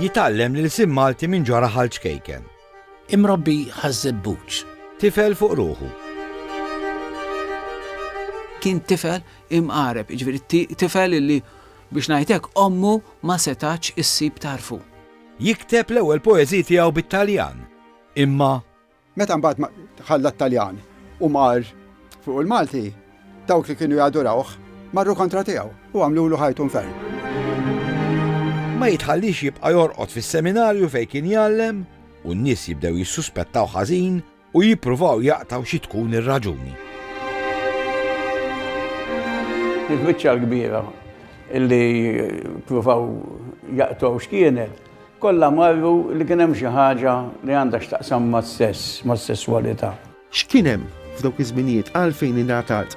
Jitgħallem l-ilsien Malti minn ġara ħal ċkejken. Imrobbi ħaż-żebbuġ. Tifel fuq ruħu. Kien tifel imqareb, jiġifieri tifel illi biex ngħidlek ommu ma setax issib tarfu. Jikteb l-ewwel poeżiji tiegħu bit-Taljan, imma Meta mbagħad ħalla t-Taljan u mar fuq il-Malti, dawk li kienu jadurawh marru kontra tiegħu u għamlulu ħajtu nfern. Ma jitħallix jibqa' jorqod fis-seminarju fejn kien jgħallem u n-nies jibdew jissuspettaw ħażin u jippruvaw jaqtgħu xi tkun ir-raġuni. Il-biċċa l-kbira li pruvaw jaqtgħu x'kienet Kollha marru li kien hemm xi ħaġa li għandha x'taqsam mas-sess, mas-sesswalità. X'kien hemm f'dawk iż-żminijiet għalfejn ingħatat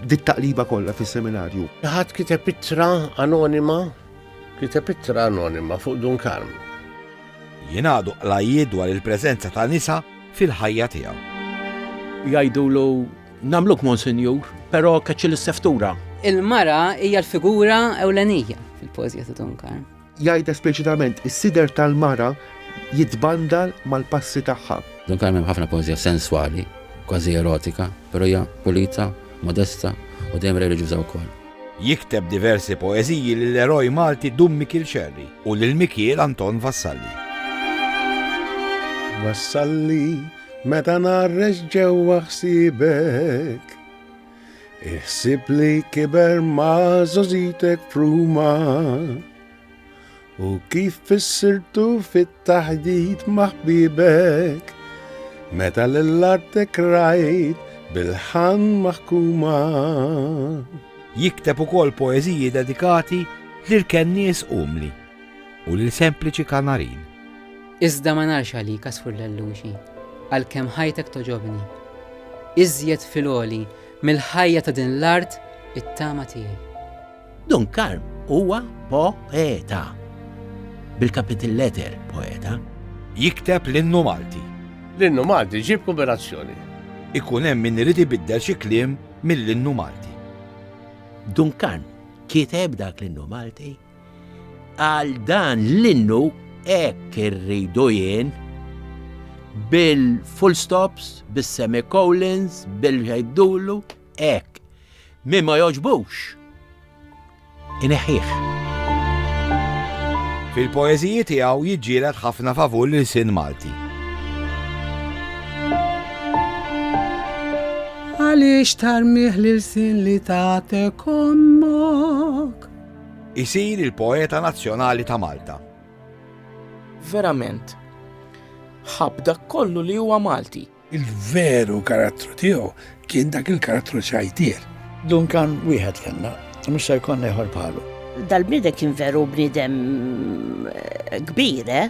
dit-taqliba kollha fis-seminarju? Xi ħadd kiteb ittra anonima, kiteb ittra anonima fuq Dun Karm. Jingħaqdu qlajjiet dwar il-preżenza ta' nisa fil-ħajja tiegħu. Jgħidulu Namluk Monsinjur, pero kaċċil is-seftura. Il-mara hija l-figura ewlenija fil-poezija ta' Dunkar. Jgħid espliċitament is-sider tal-mara jitbandal mal-passi tagħha. Dunkar hemm ħafna poezija senswali, kważi erotika, pero hija pulita, modesta u dejjem reliġjuża wkoll. Jikteb diversi poeziji lill eroj Malti Dum Mikiel Xerri u lil Mikiel Anton Vassalli. Vassalli Meta narrex ġewwa ħsiebek Iħsib li kiber ma' zozitek fruma U kif fissirtu fit-taħdit ma' ħbibek Meta l-artek rajt bil-ħan maħkuma Jikteb ukoll poeżiji dedikati lil kennies umli. u lil sempliċi Kanarin. Iżda ma narx għalik, għasfur l-elluxi, għalkemm ħajtek togħġobni. Iżjed fil-għoli mill-ħajja ta' din l-art it-tama tiegħi. Dun Karm huwa poeta. Bil-capital letter poeta. Jikteb l-innu Malti. L-innu Malti ġib kuberazzjoni. Ikun hemm min irid ibiddel xi kliem mill-innu Malti. Dun Karm kiteb dak l-innu Malti Għal dan l-innu hekk irridu jien bil-full stops, bis-semicolons, bil-ħejdulu, hekk. Min ma jogħġbux, ineħħih. Fil-poeżiji tiegħu jiġġieled ħafna favur l-ilsien Malti. Għaliex tarmiħ l-ilsien li tagħtek ommok? Isir il-poeta nazzjonali ta' Malta. Verament, ħabb dak kollu li huwa Malti. Il-veru karattru tiegħu kien dak il-karattru ċajtier. Dunkan wieħed kellna, mhux se jkollna ieħor bħalu. Dal-bniedem kien veru bniedem eh, kbir, eh?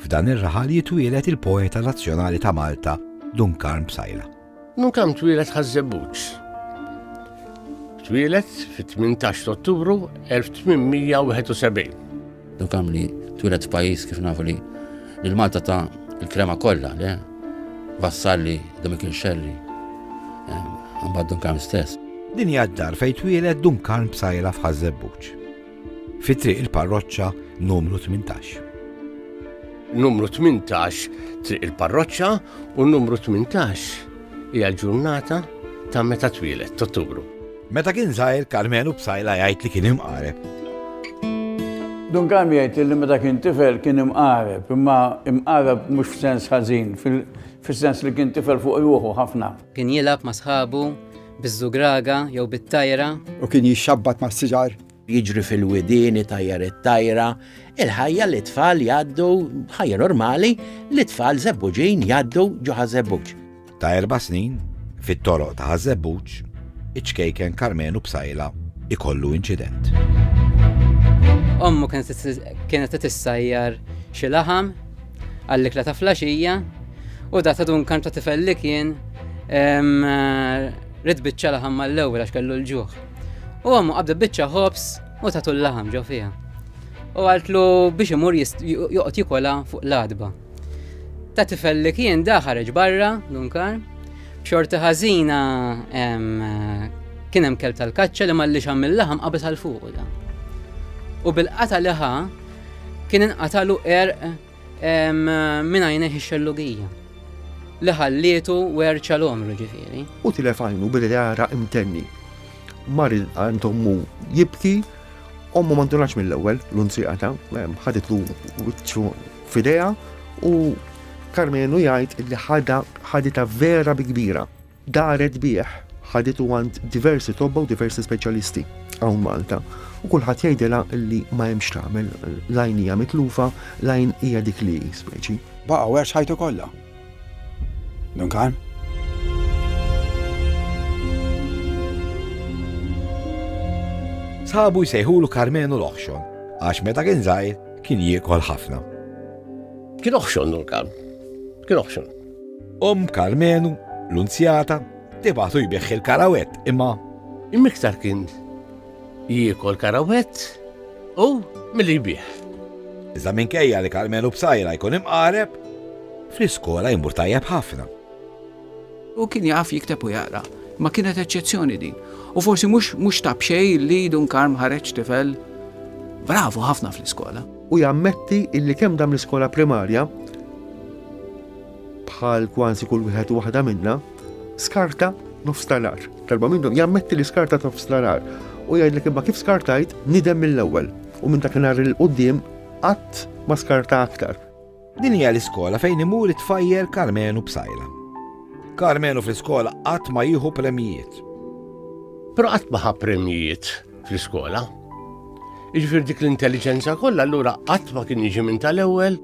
F'dan ir-raħal jitwieled il-poeta nazzjonali ta' Malta, Dun Karm Psaila. Dun Karm twieled Ħaż-Żebbuġ. Twieled fit-18 Ottubru 1871. Dun Karm li twieled f'pajjiż kif nafu li l-Malta ta' il-krema kollha, le? Vassalli, Domikin Xelli, eh, mbagħad Dun Karm stess. Din hija d-dar fejn twieled Dun Karm Psaila f'Ħaż-Żebbuġ. fi Triq il-Parroċċa numru 18. Numru 18 Triq il-Parroċċa u numru 18 hija l-ġurnata ta' meta twieled t'Ottubru. Meta kien żgħir Karmenu Bsajla jgħid li kien imqareb. Dun Karmi jgħid li meta kien tifel kien imqareb, imma imqareb mhux f'sens ħażin, fis-sens li kien tifel fuq ruħu ħafna. Kien jilgħab ma' sħabu Biż-żugraga jew bit-tajra. U kien jixxabbat mas-siġar. Jiġri fil-widien, itajjar it-tajra. Il-ħajja li t-tfal jgħaddu, ħajja normali, li t-tfal Żebbuġin jgħaddu ġo Ħaż-Żebbuġ. Ta' erba' snin, fit-toroq ta' Ħaż-Żebbuġ, iċ-ċkejken Karmenu Psaila jkollu inċident. Ommu kienet qed issajjar xi laħam. għall-ikla ta' flaxija u da ta' Duncan ta' tifel li kien rid biċċa laħam mal-ewwel għax kellu l-ġuħ. U għamu qabda biċċa ħobs u tatu l-laħam ġo fija. U għaltlu biex imur joqgħod jikola fuq l-adba. Ta' tifel li kien da ħareġ barra, Dunkar, b'xorta ħażina kien hemm kelb tal-kaċċa li malli xam mill-laħam qabes għal fuq da. U bil-qata liħa Kien inqatalu erq minn għajnejh ix-xellugija li ħallietu werċa l-għomru ġifieri. U tilef għajnu bil-għara imtenni. Mar għand ommu jibki, ommu mandunax mill-ewwel l-unzijata, ħaditlu wiċċu fidea u Karmenu jgħid li ħadha ħadita vera bi kbira. Daret bih, ħaditu għand diversi tobba u diversi speċjalisti hawn Malta u kulħadd jgħidilha li ma hemm x'tagħmel, l-għajn hija mitlufa, l-għajn hija dik li hi, speċi. Baqa' werx ħajtu kollha. Dun Karm. Sħabu jsejħulu Karmenu l-oħxon, għax meta kien żgħir kien jiekol ħafna. Kien oħxon dur Karm. Kien oħxon. Omm Karmenu, l-Unzjata, tibagħtu jbigħ il-karawett imma. Imiktar kien jiekol karawett u milli jbigħ. Iżda minkejja li Karmenu b'sajra jkun imqareb, fl-iskola jmur tajjeb ħafna. U kien jaf jikteb u jaqra, ma kienet eċċezzjoni din. U forsi mhux mhux tabxej li Dun Karm ħareġ tifel bravo ħafna fl-iskola. u jammetti illi kemm dam l-iskola primarja, bħal kwansi kull wieħed u waħda minna, skarta nofs talar. Darba minnhom jammetti li skarta nofs talar u jgħidlek imma kif skartajt nidem mill-ewwel u minn dak nhar il-qudiem qatt ma skarta aktar. Din hija l-iskola fejn imur it-tfajjel Karmenu Psaila. Karmenu fl-iskola qatt ma jieħu premjijiet. Però qatt ma ħa premjijiet fl-iskola. Iġfir dik l-intelligenza kollha allura qatt ma kien jiġi minn tal-ewwel.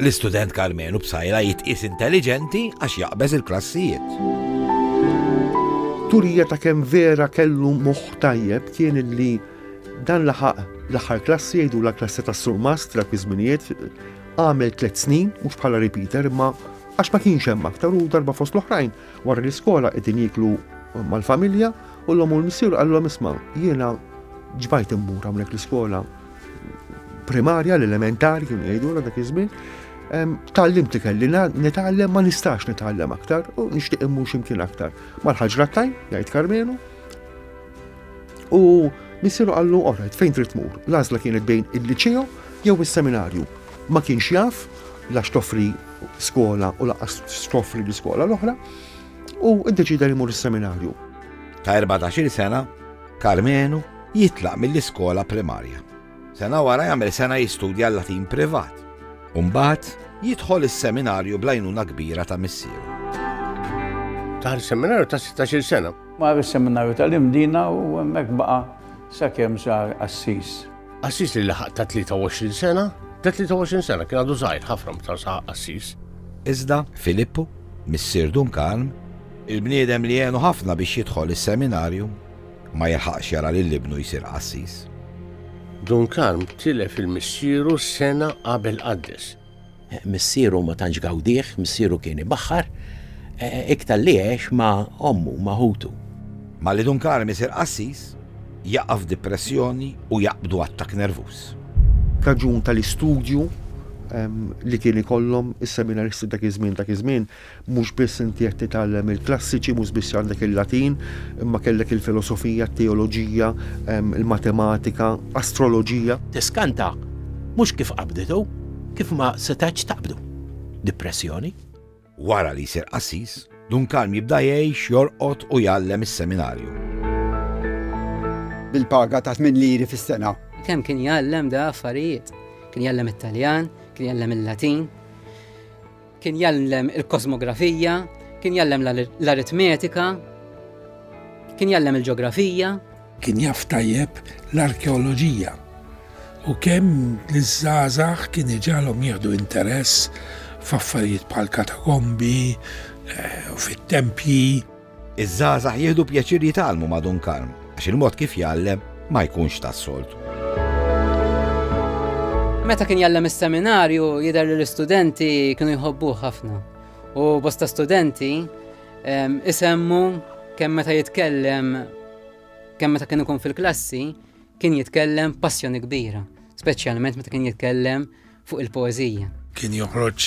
L-istudent Karmenu Psaila jitqis intelligenti għax jaqbeż il-klassijiet. Turija ta' kemm vera kellu moħħ tajjeb kien li Dan laħaq l-aħħar klassi jgħidulha klassi tas-surmast dak iż-żminijiet. Għamel tliet snin, mhux bħala repeater, imma għax ma kienx hemm aktar u darba fost l-oħrajn wara l-iskola qegħdin jiklu mal-familja u l-om u l-missier għallhom isma' jiena ġbajt immur hawnhekk l-iskola primarja, l-elementari kienu jgħidulha dak iż-żmien. Tallim ti kelli nitgħallem ma nistax nitgħallem aktar u nixtieq immur x'imkien aktar. Mal-ħaġra tajn, jgħid Karmenu, U missieru qallu, orajt, fejn trid tmur? L-għażla kienet bejn il-liċeo jew is-seminarju. Ma kienx jaf la xtoffri skola u laqas xtoffri l-iskola l-oħra u ddeċida li mur is-seminarju. Ta' 14 sena, Karmenu jitlaq mill-iskola primarja. Sena wara jagħmel sena jistudja l-Latin privat. Umbagħad jidħol is-seminarju blajnuna kbira ta' missieru. Tar seminarju ta' 16 sena. Mar is-Seminarju tal-Imdina u hemmhekk baqa' sakemm sar qassis. Qassis li laħaq ta' 23 sena, ta' 23 sena, kien għadu żgħir ħafna meta saħaq qassis. Iżda Filippu, missier Dun Karm, il-bniedem li għenu ħafna biex jidħol is-Seminarju ma jilħaqx jara lil ibnu jsir qassis. Dun Karm tilef lil missieru sena qabel qaddes. Missieru ma tantx gawdih, missieru kien ibaħħar, iktar li għex ma' ommu, ma' ħutu. Malli Dun Karm isir qassis, jaqa' f'dipressjoni u jaqbdu attakk nervuż. Raġun tal-istudju li kien ikollhom is-seminaristi dak iż-żmien, dak iż-żmien Mhux biss inti qed titgħallem il-klassiċi, mhux biss għandek il-Latin, imma kellek il-filosofija, t-teoloġija, il-matematika, astroloġija. Tiskanta, mhux kif qabdet u kif ma setgħetx taqbdu. Dipressjoni. Wara li jsir qassis, Dun Karm jibda jgħix, jorqod u jgħallem is-seminarju. Bil-paga ta' tmien liri fis-sena. Kemm kien jgħallem da affarijiet. Kien jgħallem it-Taljan, kien jgħallem il-Latin. Kien jgħallem il-kosmografija, kien jgħallem l-aritmetika, kien jgħallem il-ġeografija. Kien jaf tajjeb l-arkeoloġija u kemm li żgħażagħ kien iġalhom jieħdu interess f'affarijiet bħal katakombi, eh, fit-tempji. Iż-żgħażagħ jieħdu pjaċir jitgħallmu ma' Dun Karm għax il-mod kif jgħallem ma jkunx tas-soltu. Meta kien jgħallem is-seminarju jidher li l-istudenti kienu jħobbuh ħafna. U bosta studenti isemmu kemm meta jitkellem kemm meta kien ikun fil-klassi kien jitkellem passjoni kbira, speċjalment meta kien jitkellem fuq il-poeżija. Kien joħroġ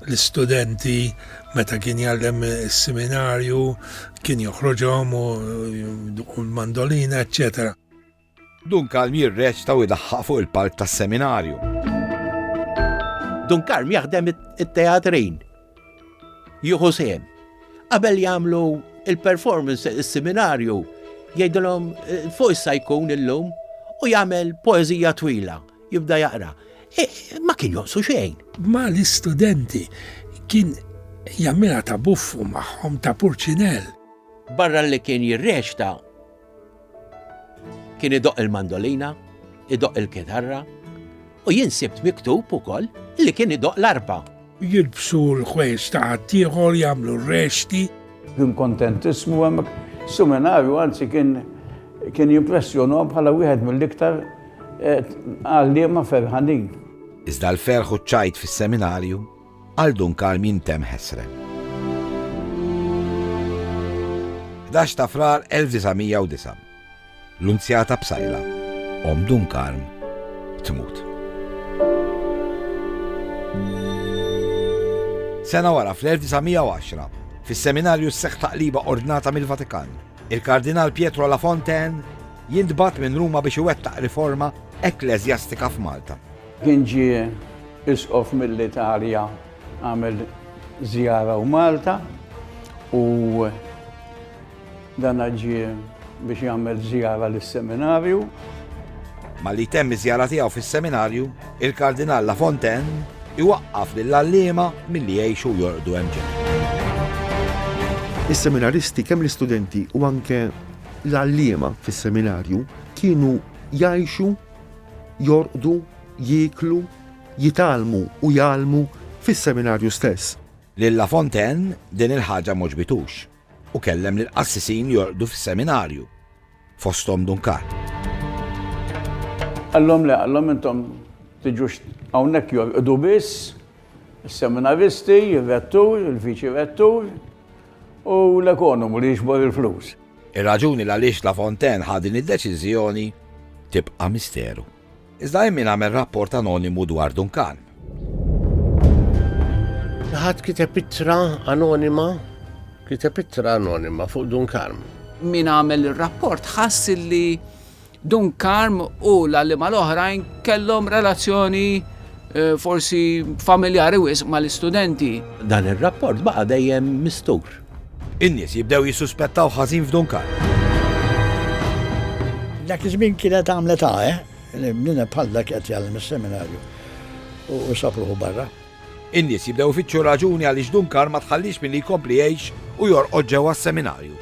l-istudenti meta kien jgħallem is-seminarju, kien joħroġhom u l-mandolina, eċċetera. Dun Kalm jirreċta u jdaħħaq fuq il-palk tas-seminarju. Dun Kalm jaħdem it-teatrin jieħu sehem. Qabel jagħmlu il-performance, is-seminarju, jgħidilhom eh, fuq issa jkun illum u jagħmel poeżija twila, jibda jaqra. E, ma kien jonqsu xejn. Ma l-istudenti kien jammira ta' buffu magħhom ta' purċinell. Barra li kien jirreċta, Kien idoqq il-mandolina, idoqq il-kitarra u jien sibt miktub ukoll li kien idoqq l-arpa. Jilbsu l-ħwejjeġ ta' ħaddieħor, jagħmlu r-rexti. Kien kontentissmu hemmhekk. Is-seminarju anzi kien kien jimpressjonahom bħala wieħed mill-iktar għalliema ferħanin. Iżda l-ferħ u ċ-ċajt fis-seminarju Għal Dun Karm jintemm ħesrem. 11 ta' Frar 1909. L-Unzjata Psajla, Omm Dun Karm, tmut. Sena wara fl-1910, fis-seminarju s-seħħ taqliba ordnata mill-Vatikan, il-Kardinal Pietro La Fontaine jintbat minn Ruma biex iwettaq riforma ekklesjastika f'Malta. Kien ġie Isqof mill-Italja għamel żjara u Malta u dana ġie biex jagħmel żjara lis-Seminarju. Malli jtemm iż-żjara tiegħu fis-Seminarju, il-Kardinal La Fontaine iwaqqaf lill-għalliema milli jgħixu u jorqdu hemm ġenb. Is-Seminaristi, kemm l-istudenti u anke l-għalliema fis-Seminarju, kienu jgħixu Jorqdu, jieklu, jitgħallmu u jgħallmu fis-seminarju stess. Lil La Fontaine din il-ħaġa m'għoġbitux u kellem lill-qassisin jorqdu fis-seminarju, fosthom Dun Karl. Qallhom le, qallhom intom tiġux hawnhekk jorqdu biss, is-seminaristi, ir-rettur, il-viċi-rettur, U l-ekonomu li jiġbor il-flus. Ir-raġuni l-għaliex La Fontaine ħa din id-deċiżjoni tibqa' misteru. Iżda hemm min għamel rapport anonimu dwar Duncan. Ħadd kiteb ittra anonima, kiteb ittra anonima fuq Duncan. Min għamel ir-rapport ħass li Dun Karm u l-għalliema l-oħrajn kellhom relazzjoni forsi familjari wisq mal-istudenti. Dan ir-rapport baqa' dejjem mistur. In-nies jibdew jissuspettaw ħażin f'Dun Karm. Dak iż-żmien kienet għamlet għagħa li bniedem bħal dak qed jgħallem is-seminarju u sab ruħu barra. In-nies jibdew ifittxu r-raġuni għaliex Dunkar ma tħallihx milli jkompli jgħix u jorqod ġewwa s-seminarju.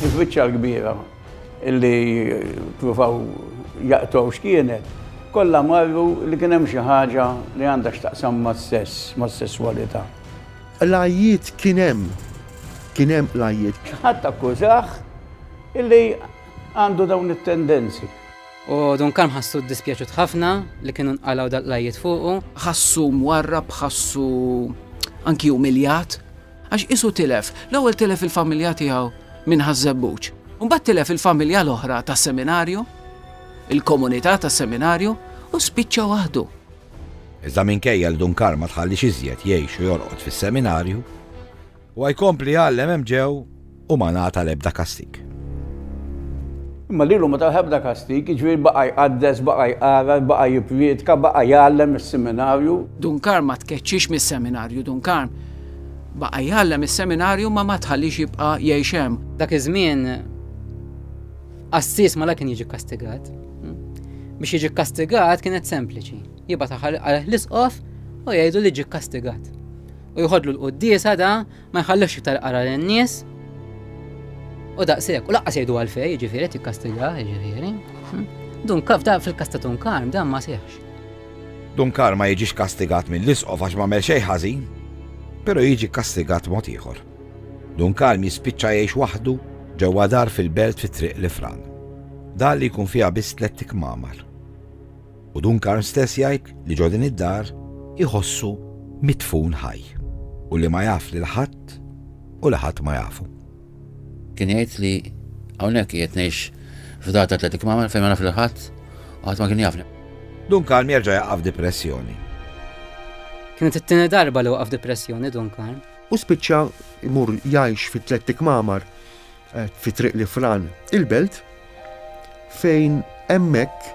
Il-biċċa l-kbira li ppruvaw jaqtgħu x'kienet, kollha marru li kien hemm xi ħaġa li għandha x'taqsam mas-sess, mas-sesswalità. Qlajjiet kien hemm. Kien hemm qlajjiet. Xi ħadd akkużah li għandu dawn it-tendenzi. U Dun Kalm ħassu ddispjaċut ħafna li kienu nqalgħu dal-qlajjiet fuqu. Ħassu mwarrab, ħassu anki umiljat, għax qisu tilef. L-ewwel tilef il-familja tiegħu minn Ħaż-Żebbuġ. Imbagħad tilef il-familja l-oħra tas-seminarju, il-komunità tas-seminarju u spiċċa waħdu. Iżda minkejja li Dun Kalm ma tħallix iżjed jgħix u jorqod fis-seminarju, Huwa jkompli jgħallem hemm ġew u ma ngħata l-ebda kastig. Imma lilu ma taħ ebda kastig, jiġifieri baqa' jqaddes, baqa' jqara, baqa' jippriedka, baqa' jgħallem is-seminarju. Dun Karm ma tkeċċiex mis-seminarju, Dun Karm baqa' jgħallem is-seminarju imma ma tħalliex jibqa' jgħix hemm. Dak iż-żmien qassis malajr kien jiġi kkastigat. Biex jiġi kkastigat kienet sempliċi, jibgħat aħħar għalih l-isqof u jgħidlu li ġie kkastigat. U jħodlu l-quddiesa da ma jħallux iktar qara lin-nies. U daqshekk, u laqqas jgħidu għalfej, jiġifieri tikkastiga, jiġifieri. Hm? Dun kaf da fil-kasta tun karm dan ma seħx. Dun karm ma jiġix kastigat mill-isqof għax ma xejn ħażin, però jiġi kastigat mod ieħor. Dun karm jispiċċa jgħix waħdu ġewwa dar fil-belt fit-triq l-ifran. Dar li jkun fiha biss tliet tikmamar. u Duncan stess jgħid li ġo din id-dar iħossu midfun ħaj u li ma jaf lil ħadd u li ħadd ma jafu. Kien jgħid li hawnhekk qiegħed ngħix f'dar ta' tliet kmamar fejn ma naf lil ħadd u ħadd ma kien jafni. Duncan jerġa' jaqa' f'dipressjoni. Kienet it-tieni darba li waqa' f'dipressjoni Duncan. U spiċċa jmur jgħix fi tliet kmamar fi Triq l-Ifran il-Belt, fejn hemmhekk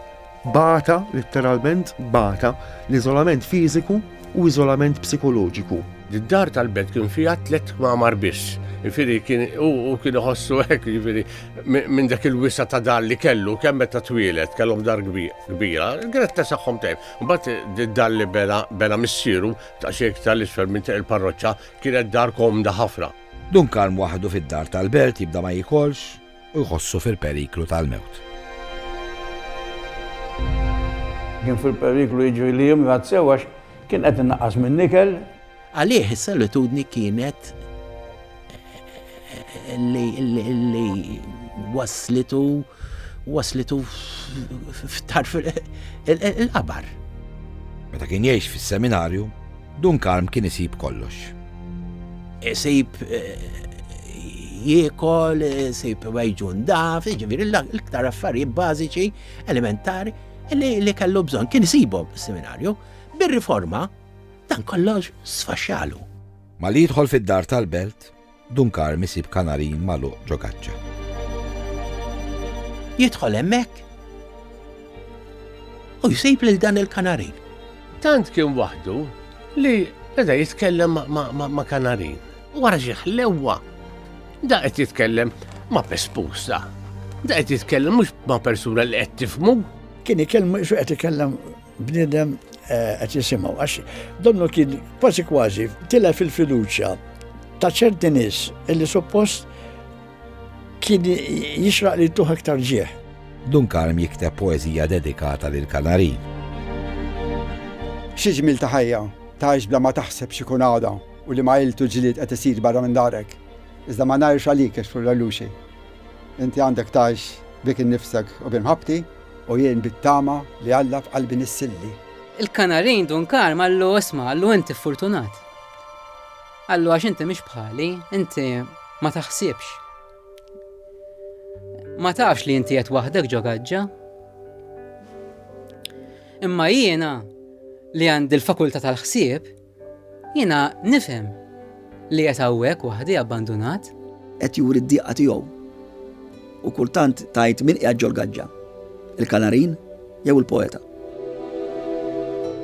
bata, litteralment bata, l-iżolament fiżiku u iżolament psikoloġiku. Id-dar tal-Belt kien fiha tliet kmamar biss, jiġifieri kien u kien iħossu hekk jiġifieri minn dak il-wisa' ta' dar li kellu kemm meta twieled kellhom dar kbira, kienet tesaħħhom tajjeb. Imbagħad id-dar li bena bena missieru ta' xejn iktar 'l isfel minn Triq il-Parroċċa kienet dar komda ħafna. Dun Karm waħdu fid-dar tal-belt jibda ma jiekolx u jħossu fil-periklu tal-mewt. Kien fil-periklu jiġri li jimrad sew għax kien qed inaqqas min-nikel. Għalih is-solitudni kienet li waslitu waslitu f'tarf il-qabar. Meta kien jgħix fis-seminarju, Dun Karm kien isib kollox. Isib jiekol, isib wejġu ndaf, jiġifieri l-iktar affarijiet bażiċi, elementari li kellu bżonn kien isibhom fis-seminarju. Bir-riforma dan kollox sfaxxalu. Malli jidħol fid-dar tal-belt, Dun Karm isib kanarin magħluq ġo gaċċa. Jidħol hemmhekk u jsib lil dan il-kanarin. Tant kien waħdu li beda jitkellem ma' kanarin. Wara xi ħlewwa da qed jitkellem ma' pespusa. Da qed jitkellem mhux ma' persuna li qed tifmu. Kien ikellem qed ikellem Bniedem eh, qed jisimgħu għax donnu kien kważi kważi tilef fil fiduċja ta' ċerti nies illi suppost kien jixraq li tuħ aktar ġieħ. Dun Karm jikteb poezija dedikata lil Kanari. Xi ġmil ta' ħajja, taħx bla ma taħseb xi kun għada u li ma iltu ġlied qed isir barra minn darek. Iżda ma ngħirx għalik għax furra luxi. Inti għandek taħx bik innifsek u bimħabti U jien bit-tama li Alla f'qalbi nissilli. Il-Kanarin dun karm qallu, Isma', qallu, inti furtunat. Qallu, għax inti mhix bħali, inti ma taħsibx. Ma tafx li inti qed waħdek ġo gaġġa. Imma jiena li għandi l-fakultà tal-ħsieb, Jiena nifhem li qiegħed hawnhekk waħdi abbandunat. Qed juri d-diqa tiegħu. U kultant tgħid min qiegħed ġol-gaġġa, il-kanarin jew il-poeta.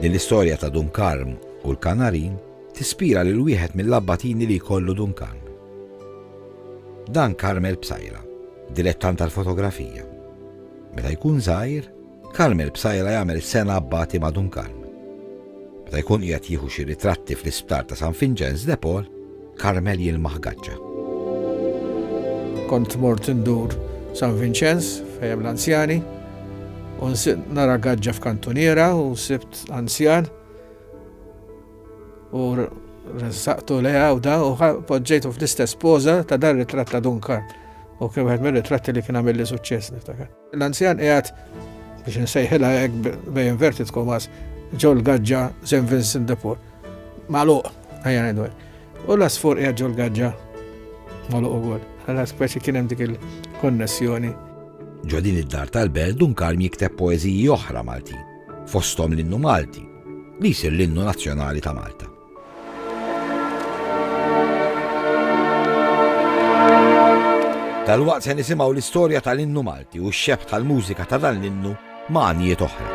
Din l-istorja ta' Dun Karm u l-kanarin tispira lil wieħed mill-abbatini li jkollu Dun Karm. Dan Karmel Psaila, dilettant tal-fotografija. Meta jkun żgħir, Kalm il-Bsajla jagħmel is-sena Abbati ma' Dunkalm. Meta jkun qiegħed jieħu xi ritratti fl-isptar ta' San Vinċenz de Paul, Karmel jilmaħ gaċċa. Kont mort indur San Vinċenz fejn l-anzjani u nara gaġġa f'kantuniera u sibt anzjan u ressaqtu leja u da u poġġejtu fl-istess poza ta' dar ritratt ta' Dunkar u kien wieħed mir-ritratti li kien għamilli suċċess niftakar. L-anzjan qiegħed, biex insejħilha hekk bejn inverted commas, ġol-gaġġa St. Vincent de Paul. Magħluq, ejja ngħidu hekk. U l-għasfur qiegħed ġol-gaġġa magħluq ukoll. Għala speċi kien hemm dik il-konnessjoni. Ġo din id-dar tal-belt Dun Karm jikteb poeżiji oħra Maltin, fosthom l-innu Malti, li jsir l-innu nazzjonali ta' Malta. Dalwaqt se nisimgħu l-istorja tal-innu Malti u x-xebħ tal-mużika ta' dan l-innu ma' għanijiet oħra.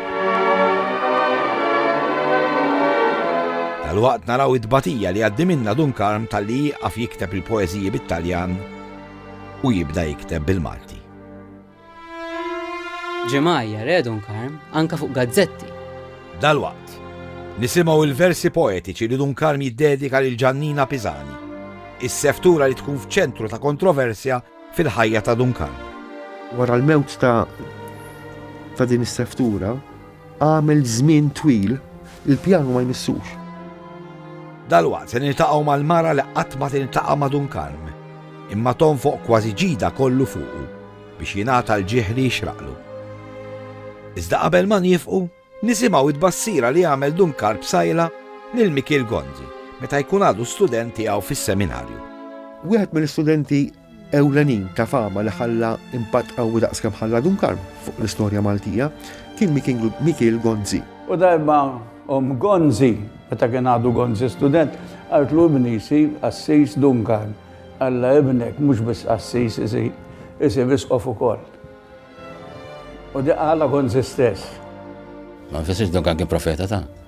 Dalwaqt naraw id-batija li għaddi minna Dun Karm tal-li jieqaf jikteb il-poeżiji bit-Taljan u jibda jikteb bil-Malti. Ġemgħajjar Edun Karm anke fuq gazzetti. Dalwaqt, nisimgħu l-versi poetiċi li Dun Karm jiddedika lil Ġannina Pisani, is-seftura li tkun f'ċentru ta' kontroversja fil-ħajja ta' Dun Karm. Wara l-mewt ta' din is-seftura, Għamel żmien twil il-pjanu ma jmissux. Dalwaqt se niltaqgħu mal-mara li qatt ma tiltaqa' ma' Dun Karm, imma tonfoq kważi ġidha kollu fuqu biex jingħata l-ġieħ li jixraqlu. Iżda qabel ma niefqu, nisimgħu t-tbassira li għamel Dun Karm b'sajla lil Mikiel Gonzi meta jkun għadu student tiegħu fis-seminarju. Wieħed mill-istudenti ewlenin ta' fama li ħalla impatt qawwi daqs kemm ħalla Dun Karm fuq l-istorja Maltija kien Mikiel Gonzi. U darba omm Gonzi, meta kien għadu Gonzi student, qaltlu ibni jsir qassis Dun Karm, Alla ibnek mhux biss qassis isir, isir isqof ukoll. U dik qalha Gonzi stess. Ma nfissirx li Dun Karm kien profeta ta'.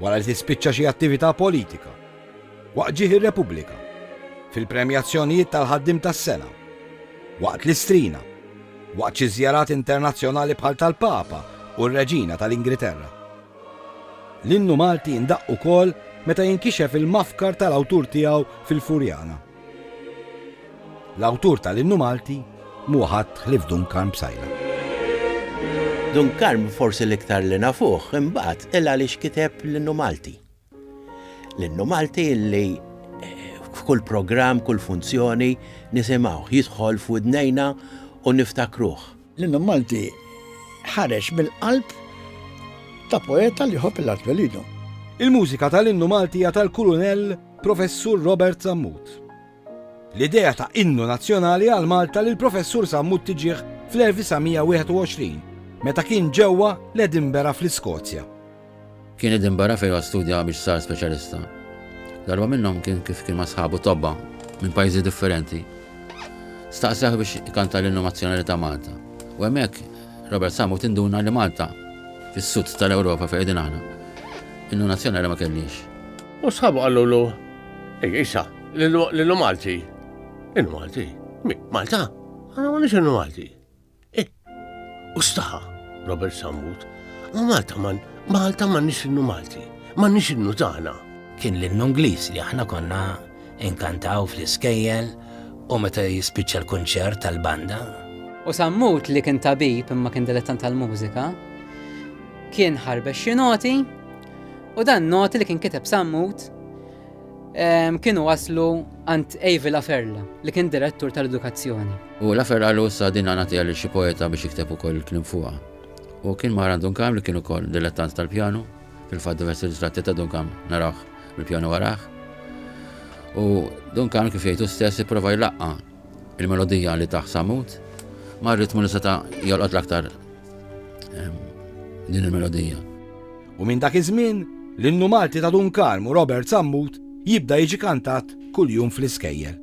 wara li tispiċċa xi attività politika, waqt ġieħ ir-Repubblika, fil-premjazzjonijiet tal-Ħaddiem tas-Sena, waqt l-Istrina, waqt xi żjarat internazzjonali bħal tal-Papa u r-Reġina tal-Ingriterra. L-innu Malti jindaqq ukoll meta jinkixef il-mafkar tal-awtur tiegħu fil-Furjana. L-awtur tal-innu Malti m'hu ħadd ħlief Dun Karm Psaila. Dun Karm forsi l-iktar li nafuh imbagħad il għaliex kiteb l-innu Malti. L-innu Malti li f'kull programm, kull funzjoni nisimgħuh jidħol f'widnejna u niftakruh. L-innu Malti ħareġ mill-qalb ta' poeta li jħobb l-art twelidu. Il-mużika tal-innu Malti hija tal-Kulunell Professur Robert Sammut. L-idea ta' innu nazzjonali għal Malta lil Professur Sammut tiġih fl-1921 meta kien ġewwa l-Edinburgh fl-Iskozja. Kien Edinburgh fejn huwa studja biex sar speċjalista. Darba minnhom kien kif kien ma' sħabu tobba minn pajjiżi differenti. Staqsewh biex ikanta l-innu nazzjonali ta' Malta. U hemmhekk Robert Samu tinduna li Malta, fis-sud tal-Ewropa fejn qegħdin aħna, innu nazzjonali ma kellhiex. U sħabu qalulu, Ej, isa, l-innu Malti. Innu Malti? Malta? Aħna m'għandniex innu Malti. Eh, u staħa, Robert Sammut, ma Malta man, Malta man nix innu Malti, man nix innu tagħna. Kien l-innu Ingliż li aħna konna inkantaw fl-iskejjel u meta jispiċċa l-kunċert tal-banda. U Sammut li kien tabib imma kien dilettant tal-mużika, kien ħarbex xi noti u dan noti li kien kiteb Sammut kienu waslu għand Avi Laferla li kien direttur tal-edukazzjoni. U Laferla l sa din għanatija li xi poeta biex jikteb ukoll il-klim fuqha. U kien mara Dunkam li kien ukoll dilettant tal-pjanu, fil-fatt diversi ritratti ta' Dunkam naraw bil-pjanu waraħ. U Dunkam kif jgħidu stess ipprova jlaqqa il-melodija li taħ samut ma' ritmu li seta' jolqot l-aktar din il-melodija. u minn dak iż-żmien l-innu Malti ta' Dun Karm u Robert Sammut jibda jiġi kantat kuljum fl-iskejjel.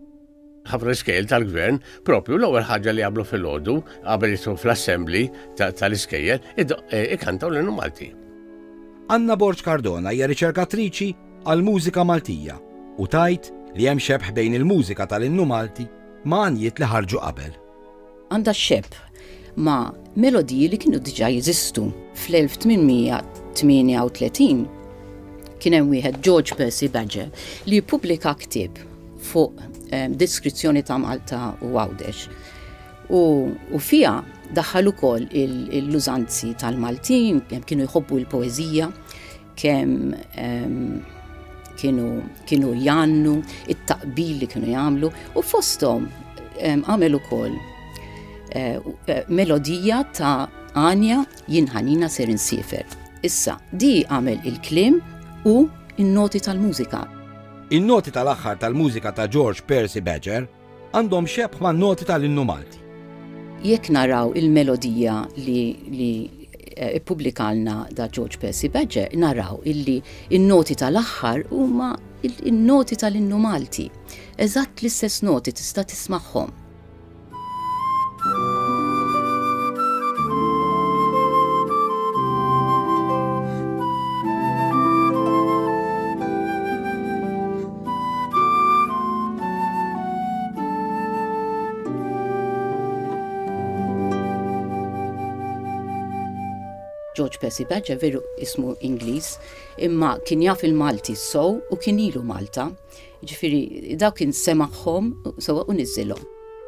Ħafna iskejjel tal-Gvern, proprju l-ewwel ħaġa li jagħmlu filgħodu, qabel jidħlu fl-assembly tal-iskejjel, ikantaw l-innu Malti. Anna Borg Cardona hija riċerkatriċi għall-mużika Maltija u tgħid li hemm xebħ bejn il-mużika tal-innu Malti ma' għanjiet li ħarġu qabel. għandha xxebb ma' melodiji li kienu diġà jeżistu. Fl-1838 kien hemm wieħed George Percy Badger li jippubblika ktieb fuq eh, deskrizzjoni ta' Malta u Għawdex. U, u fija daħħal ukoll l-użanzi tal-Maltin, kienu jħobbu l-poeżija, kemm kienu jannu, it-taqbil li kienu jagħmlu u fosthom għamel ukoll eh, eh, melodija ta' Anja jinħanina ser insifer. Issa, di għamel il-klim u in-noti tal-mużika. In-noti tal-aħħar tal-mużika ta' George Percy Badger Għandhom xebħ man-noti tal-innu Malti. Jekk naraw il-melodija li li eh, ippubblikalna da George Percy Badger, naraw illi in-noti tal-aħħar huma in-noti tal-innu Malti. Eżatt l-istess noti tista' tismagħhom. George Percy Badger veru ismu Ingliż, imma kien jaf il-Malti sow u kien ilu Malta. Ġifiri, daw kien semaħħom sowa u nizzilhom.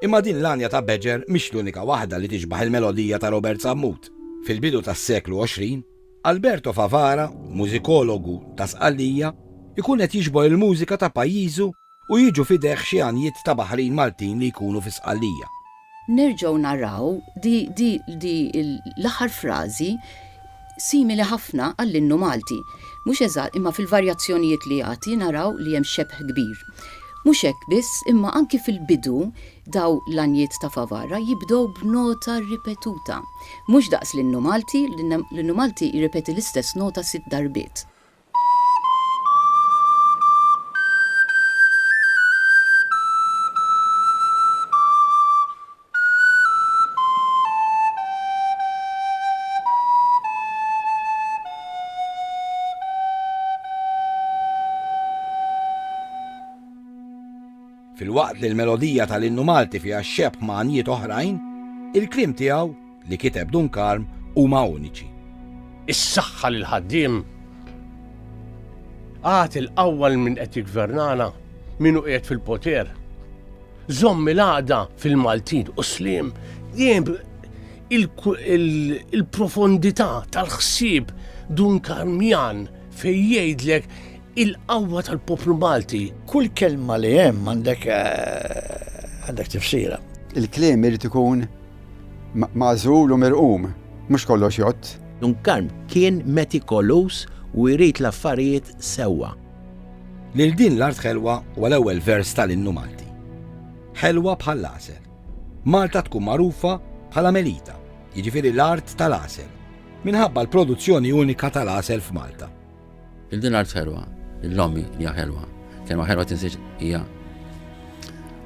Imma din l-għanja ta' Badger mhix l-unika waħda li tixbaħ il-melodija ta' Robert Sammut. Fil-bidu tas-seklu 20, Alberto Favara, mużikologu ta' Sqallija, ikun qed jiġbor il-mużika ta' pajjiżu u jiġu f'idejh xi għanjiet ta' baħrin Maltin li jkunu fi Sqallija. Nerġgħu naraw di l-aħħar frażi simili ħafna għall-innu Malti. Mhux eżatt, imma fil-varjazzjonijiet li jagħti naraw li hemm xebh kbir. Mhux hekk biss, imma anki fil-bidu Dawn l-għanjiet ta' Favara jibdew b'nota ripetuta. Mhux daqs l-Innu Malti, l-Innu Malti jirrepeti l-istess nota sitt darbiet. Filwaqt li l-melodija tal-innu Malti fiha x-xebh ma' għanjiet oħrajn, il-kliem tiegħu, li kiteb Dun Karm, huma uniċi. Is-saħħa lill-ħaddiem! Agħti l-qawwa lil min qed jiggvernana, min hu qiegħed fil-poter. Żomm il-għaqda fil-Maltin u s-sliem dejjem il-profondità tal-ħsieb Dun Karmjan fejn jgħidlek Il-qawwa tal-poplu Malti. Kull kelma li hemm għandek eh, għandek tifsira. Il-kliem irid ikun mażul u mirqum, mhux kollox jott. Dun Karm kien metikolus u jrid l-affarijiet sewwa. Lil din l-art ħelwa huwa l-ewwel vers tal-innu Malti. Ħelwa bħall-għasel. Malta tkun magħrufa bħala Melita, jiġifieri l-art tal-għasel, minħabba l-produzzjoni unika tal-għasel f'Malta. Il-din art ħelwa, il-lom hija ħelwa. Kelma ħelwa tinsiex hija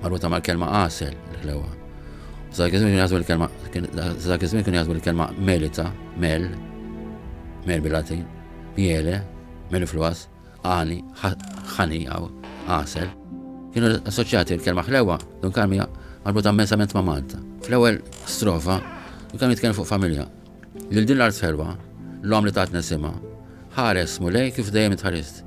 marbuta mal-kelma għasel, il-ħlewa. Dak iż-żmien kienu jaħsbu l-kelma, dak iż-żmien kienu jaħsbu l-kelma melita, mel, mel bil-Latin, miele, mel fluas, għani, ħani għaw, għasel. Kienu assoċjati l-kelma ħlewa, dun kalmija marbuta mensament ma' Malta. Fl-ewwel strofa, kienu jitkellmu fuq familja. Lil din l-art ħelwa, l-omm li tatna isimha, ħares Mulej kif dejjem itħarist.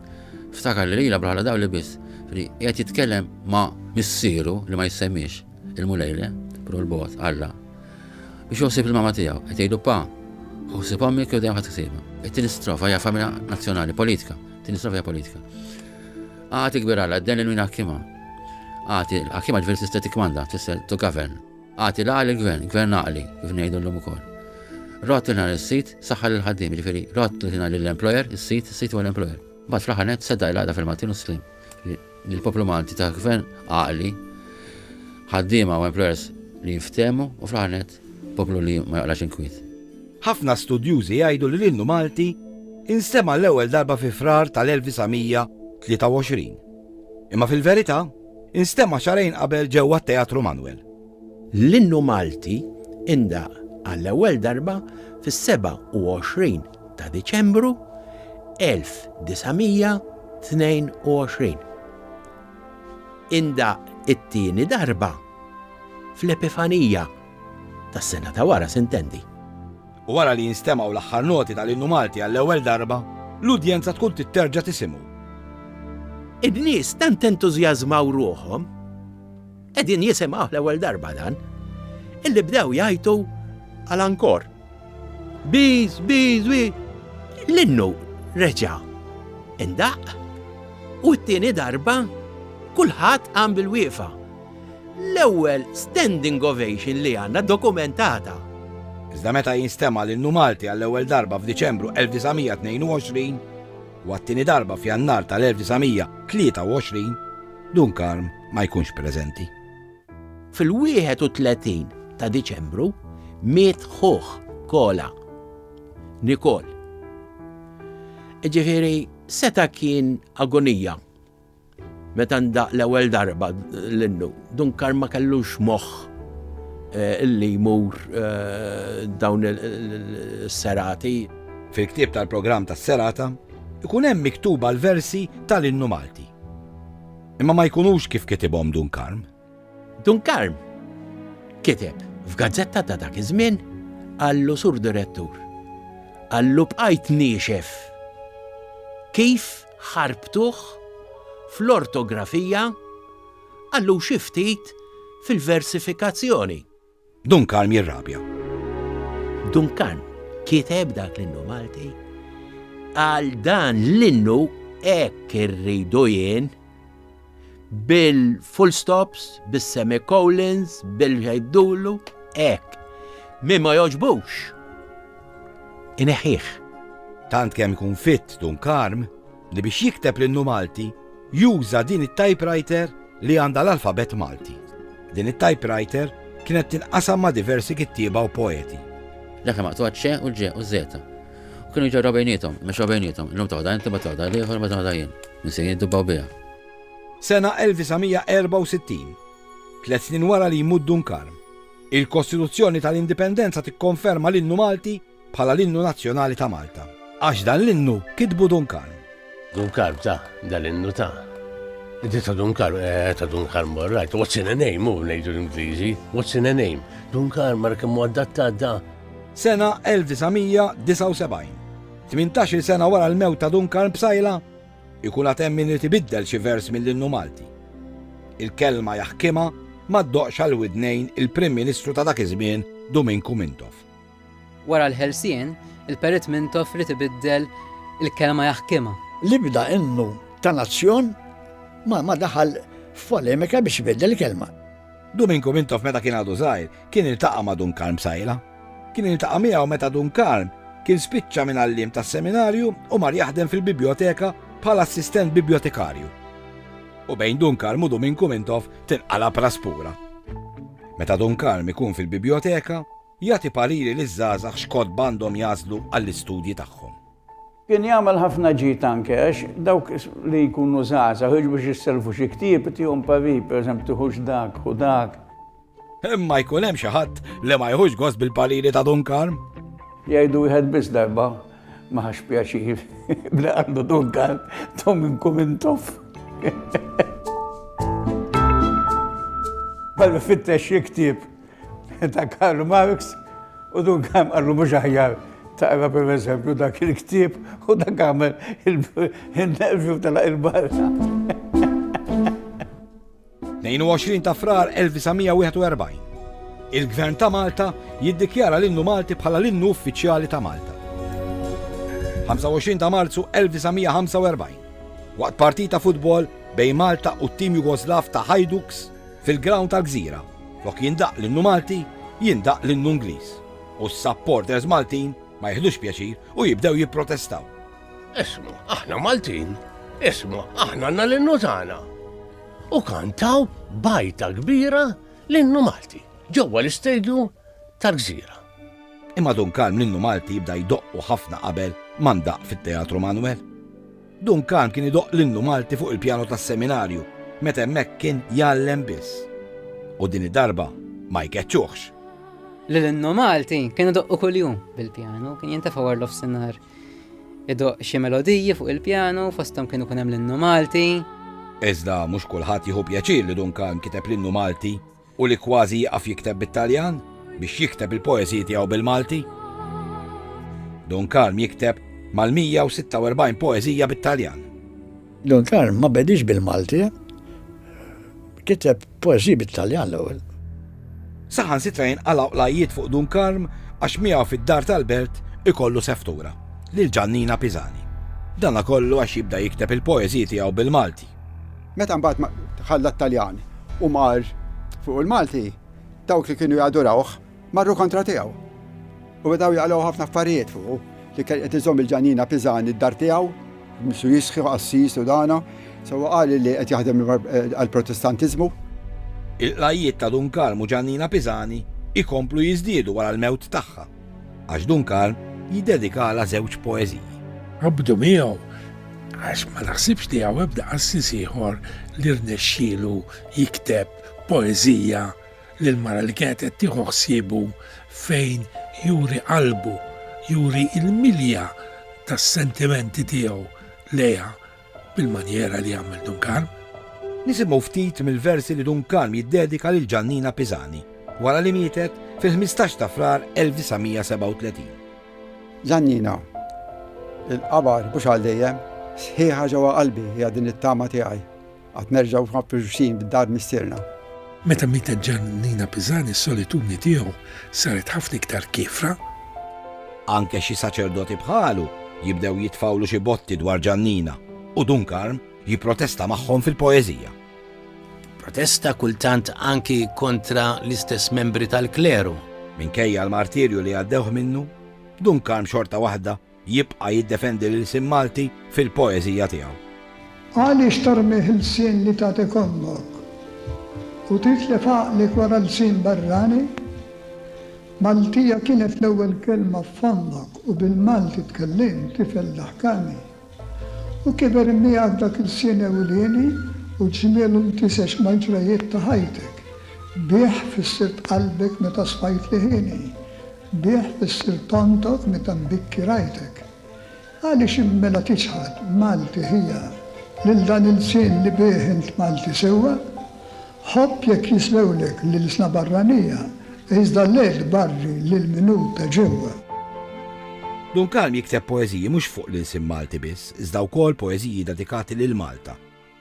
Ftakar li lilha bħala dawl li biss, li qiegħed jitkellem ma' Missieru li ma jissemmiex, il-Mulej le, però l-bogħod, Alla. Biex joħsib il-mama tiegħu, qed jgħidu pa, ħossib ommi kif dejjem ħadd isibha. It-tieni strofa hija familja nazzjonali, politika, tieni strofa hija politika. Għati kbir Alla, d-den il-min ħakkima. Għati, l-ħakkima ġveri tista' tikmanda, tista' to govern. Agħti l-għaqal il-Gvern, Gvern għaqli, kif ngħidu llum ukoll. Rott il-ħna lis-sid, saħħa lill-ħaddiem, jiġifieri rott il-ħna lill-employer, is-sid, is-sid huwa l-employer. Mbagħad fl-aħħar nett seddaq il-għaqda fil-Maltin u s-Sliem. Jiġifieri l-poplu Malti ta' Gvern għaqli, ħaddiema u employers li jinftehmu u fl-aħħar nett poplu li ma joqlax inkwiet. Ħafna studjużi jgħidu li l-innu Malti instema' l-ewwel darba fi Frar tal-1923. Imma fil-verità, Instema' xarejn qabel ġewwa t-Teatru Manwel. L-innu Malti indaq għall-ewwel darba fis-27 ta' Diċembru 1922. Indaq it-tieni darba fl-Epifanija tas-sena ta' wara, s'intendi. u wara li jinstemgħu l-aħħar noti tal-Innu Malti għall-ewwel darba, l-udjenza tkun titterġa' tisimgħu. In-nies tant entużjażmaw ruħhom, qegħdin jisimgħuh l-ewwel darba dan, illi bdew jgħajtu għal ankor. Bis, bis, bi! L-innu reġa' indaqq u t-tieni darba kulħadd qam bil-wieqfa. L-ewwel standing ovation li għandna dokumentata. Iżda meta jinstema' l-innu Malti għall-ewwel darba f'Diċembru 1922 u għat-tieni darba f'Jannar tal-1923, Dun Karm ma jkunx preżenti. Fil-31 ta' Diċembru miet ħuh Kola, Nikol. Ġifieri seta' kien agonija Meta ndaqq l-ewwel darba l-innu, Dunkar ma kellux moħħ li jmur dawn is-serati. Fil-ktieb tal-programm tas-serata jkun hemm miktuba l-versi tal-innu Malti. Imma ma jkunux kif kitibhom Dun Karm. Dunkarm kiteb f'gazzetta ta' dak iż-żmien qallu Sur Direttur, qallu bqajt niexef kif ħarbtuh fl-ortografija, qallu xi ftit fil-versifikazzjoni. Dun Karm jirrabja. Dun Karm kiteb dak l-innu Malti għal dan l-innu hekk irridu jien bil-full stops, bis-semicolons, bil-ħejdulu, hekk. Min ma joġbux. Ineħħih. Tant kemm ikun fit Dun Karm, li biex jikteb l-innu Malti juża din it-typewriter li għandha l-alfabett Malti. Din it-typewriter kienet tinqasam ma' diversi kittieba u poeti. Dak li maqtuha ċe u ġe u zeta. U kienu jġorraw bejnietom, mexxew bejnietom, illum toħda inti ma toħda l-ieħor ma toħda jien. Nisien jiddubbaw biha. Sena 1964, tliet snin wara li jmut Dun Karm, il-Kostituzzjoni tal-Indipendenza tikkonferma l-innu Malti bħala l-innu nazzjonali ta' Malta. Għax dan l-innu kitbu Dun Karm. Dun Karm ta' dan l-innu ta' Inti ta' Dun Karm, eh, ta' Dun Karm morrajt, what's in a name, u nejdu l-Ingliżi, what's in a name, Dun Karm mar kemmu għaddatta da. Sena 1979, 18 sena wara l-mew ta' Dun Karm b'sajla, ikun għatem min li tibiddel xi vers mill-innu Malti. Il-kelma jaħkima ma ddoqx għal widnejn il-Prim Ministru ta' dak iż-żmien Duminku Mintoff. Wara l-ħelsien, il-Perit Mintoff ried ibiddel il-kelma jaħkimha. L-ibda innu ta' nazzjon ma daħal f'polemika biex ibiddel il-kelma. Duminku Mintoff meta kien għadu żgħir, kien iltaqa' ma' Dun Karm B'Sajla. Kien iltaqa' miegħu meta Dun Karm kien spiċċa minn għalliem tas-seminarju u mar jaħdem fil-bibjoteka bħala assistent bibjotekarju. U bejn Dun Karm u Duminku Mintoff tinqalab raspura. Meta Dun Karm ikun fil-bibjoteka, Jagħti pariri liż-żgħażagħ x'kotba għandhom jagħżlu għall-istudji tagħhom. Kien jagħmel ħafna ġid anke għax dawk li jkunu żgħażagħ jiġu biex jisselfu xi ktieb itihom parir, pereżempju tiħux dak, ħu dak. Imma jkun hemm xi ħadd li ma jħux gost bil-pariri ta' Dun Karm? Jgħidu wieħed biss darba ma ħax pjaċir bla għandu Dun Karm tom inkum intof. Bħal fittex xi ktieb ta' Karl Marx u dun kam għallu mux aħjar taqra per eżempju dak il-ktib u dak għamel il-nervju tala il-barra. 22 ta' frar 1941. Il-Gvern ta' Malta jiddikjara l-innu Malti bħala l-innu uffiċjali ta' Malta. 25 ta' Marzu 1945. Waqt partita futbol bejn Malta u t-tim Jugoslav ta' Hajduks fil-ground tal-Gżira. Flok jindaqq l-innu Malti, jindaqq l-innu Ingliż. U s-supporters Maltin ma jiħdux pjaċir u jibdew jipprotestaw. Isma', aħna Maltin, isma' aħna għandna l-innu tagħna. U kantaw b'għajta kbira l-innu Malti ġewwa l-istadium tal-Gżira. Imma dun kalm l-innu Malti bda jdoqqu ħafna qabel ma ndaqq fit-Teatru Manwel. Duncan kien idoqq l-innu Malti fuq il-pjano tas-seminarju meta hemmhekk kien jgħallem biss. U din id-darba ma jkeċċuhx. Li l-innu Malti kien idoqqu kuljum bil-pjano, kien jintefa' war l-ofsinhar idoqq xi melodiji fuq il-pjano, fosthom kien ikun hemm l-innu Malti. Iżda mhux kulħadd jieħu pjaċir li Duncan kiteb l-innu Malti. u li kważi jieqaf jikteb bit-Taljan biex jikteb il-poeżiji tiegħu bil-Malti. Dun Karm jikteb mal-146 poeżija bit-Taljan. Dun Karm ma bediex bil-Malti, kiteb poeżiji bit-Taljan l-ewwel. Saħansitra jinqalgħu qlajjiet fuq Dun Karm għax miegħu fid-dar tal-belt ikollu seftura, lil Ġannina Pisani. Dana kollu għax jibda jikteb il-poeżiji tiegħu bil-Malti. Meta mbagħad ma- ħalla t-Taljan u mar fuq il-Malti, dawk li kienu jadurawh marru kontra tiegħu. U bdew jaqlgħu ħafna affarijiet fuqu li kien qed iżomm il-Ġanina Piżan id-dar tiegħu, misu jisħi u qassis u dana, sewwa qal li qed jaħdem għall-Protestantiżmu. Il-qlagħijiet ta' Dun Karm u Ġanina Piżani jkomplu jiżdiedu wara l-mewt tagħha. Għax Duncan jiddedikalha żewġ poeżiji. Qabdu miegħu għax ma naħsibx li hawn ebda qassis ieħor li rnexxielu jikteb poeżija lil mara li kienet qed tieħu ħsiebu fejn juri qalbu, juri l-milja tas-sentimenti tiegħu lejha bil-manjera li għamel Dun Karm. Nisimgħu ftit mill-versi li Dun Karm jiddedika lil Ġannina Pisani, wara li mietet fil-ħmistax ta' Frar 1937. Ġannina, il-qabar mhux għal dejjem, sħiħa ġewwa qalbi hija din it-tama tiegħi, għad nerġgħu mafruxin b'dar Missierna. Meta mietet Ġannina Pisani s-solitudni tiegħu saret ħafna iktar kiefra. Anke xi saċerdoti bħalu jibdew jitfgħulu xi botti dwar Ġannina u Dun Karm jipprotesta magħhom fil-poeżija. Protesta kultant anki kontra l-istess membri tal-kleru. Minkejja l-martirju li għaddewh minnu, Dun Karm xorta waħda Jibqa' jiddefendi l-ilsien Malti fil-poeżija tiegħu. Għaliex tarmih ilsien li tagħtik ommok u titlef għaqlek wara lsien barrani? Maltija kienet l-ewwel kelma f'fommok u bil-Malti tkellimt, tifel daħkani. U kiber miegħek dak ilsien ewlieni u ġmielu ltisex mal-ġrajjiet ta' ħajtek. Bih fissirt qalbek meta sfajt liħieni. Bih issirt tontoq meta mbikki rajtek. Għaliex int mela tiċħad, Malti ħija, lil dan il-lsien li bih int Malti sewwa? Ħobb jekk jislewlek l-ilsna barranija, iżda le tbarri lil min hu ta' ġewwa. Dun Kalm jikteb poeżiji mhux fuq l-ilsien Malti biss, iżda wkoll poeżiji dedikati lil Malta,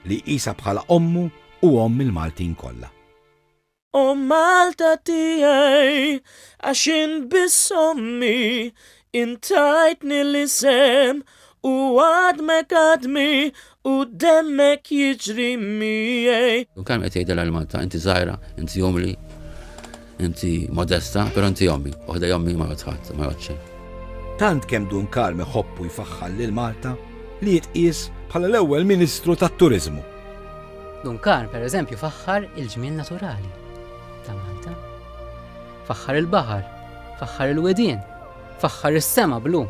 li jqisha bħala ommu u omm il-Maltin kollha. O Malta tiegħi, għax int biss ommi, int tajtni l-isem u għadmek għadmi u demmek jiġri miegħi. U kemm qed jgħidilha lil Malta, inti żgħira, inti umli, inti modesta, però inti ommi, u ħdej ommi ma jgħodd ħadd, ma jgħodd xejn. Tant kemm Dun Karm iħobb u jfaħħar lil Malta li jitqies bħala l-ewwel Ministru tat-Turiżmu. Dunkar, per eżempju, faħħar il-ġmiel naturali ta' Malta. Faħħar il-baħar, faħħar il-wedien, faħħar is-sema blu.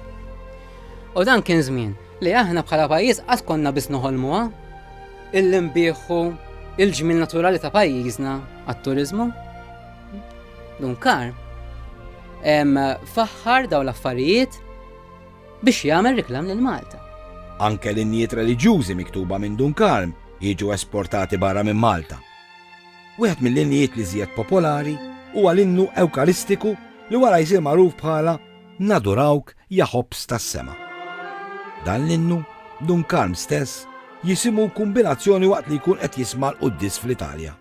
U dan kien żmien li aħna bħala pajjiż qatt konna biss noħolmuha illi nbieħu il-ġmil naturali ta' pajjiżna għat-turizmu. Dunkar, faħħar daw l-affarijiet Biex jagħmel riklam lil Malta. Anke linjiet reliġjużi miktuba minn Dun Karm jiġu esportati barra minn Malta. Wieħed mill-injiet li żjed popolari huwa l-innu Ewkaristiku li wara jsir magħruf bħala Nadurawk ja Ħobż tas-Sema. Dan l-innu, Dun Karm stess jisimgħu kumbinazzjoni waqt li jkun qed jisma' l-quddies fl-Italja.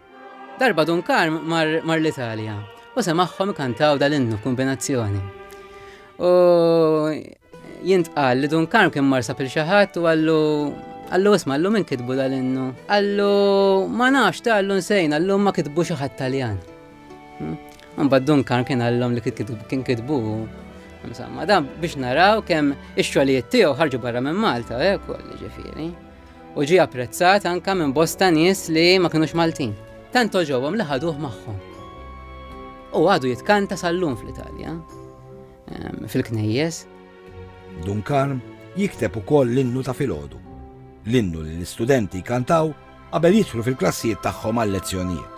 Darba Dun Karm mar, mar l-Italja u semagħhom ikantaw dal-innu kombinazzjoni. U jintqal li Dun Karm kien mar sapil xi ħadd u għallu Allu isma, allu min kitbu dal-innu? Allu ma nafx ta' allu nsejn, allu ma kitbu xi ħadd Taljan. Hmm? Mbagħad Dun Karm kien għallhom li kien kitbu Insomma, dan biex naraw kemm ix-xogħlijiet tiegħu ħarġu barra minn Malta, ekol, eh, ġifieri. u ġie apprezzat anke minn bosta nies li ma kinux Maltin. Tant oġobhom li ħaduh magħhom. U għadu jitkanta sal-lum fl-Italja, ehm, fil-knejjes. Dunkarm jikteb ukoll l-innu ta' filgħodu, l-innu li l-istudenti kantaw qabel jidħlu fil-klassijiet tagħhom għal-lezzjonijiet.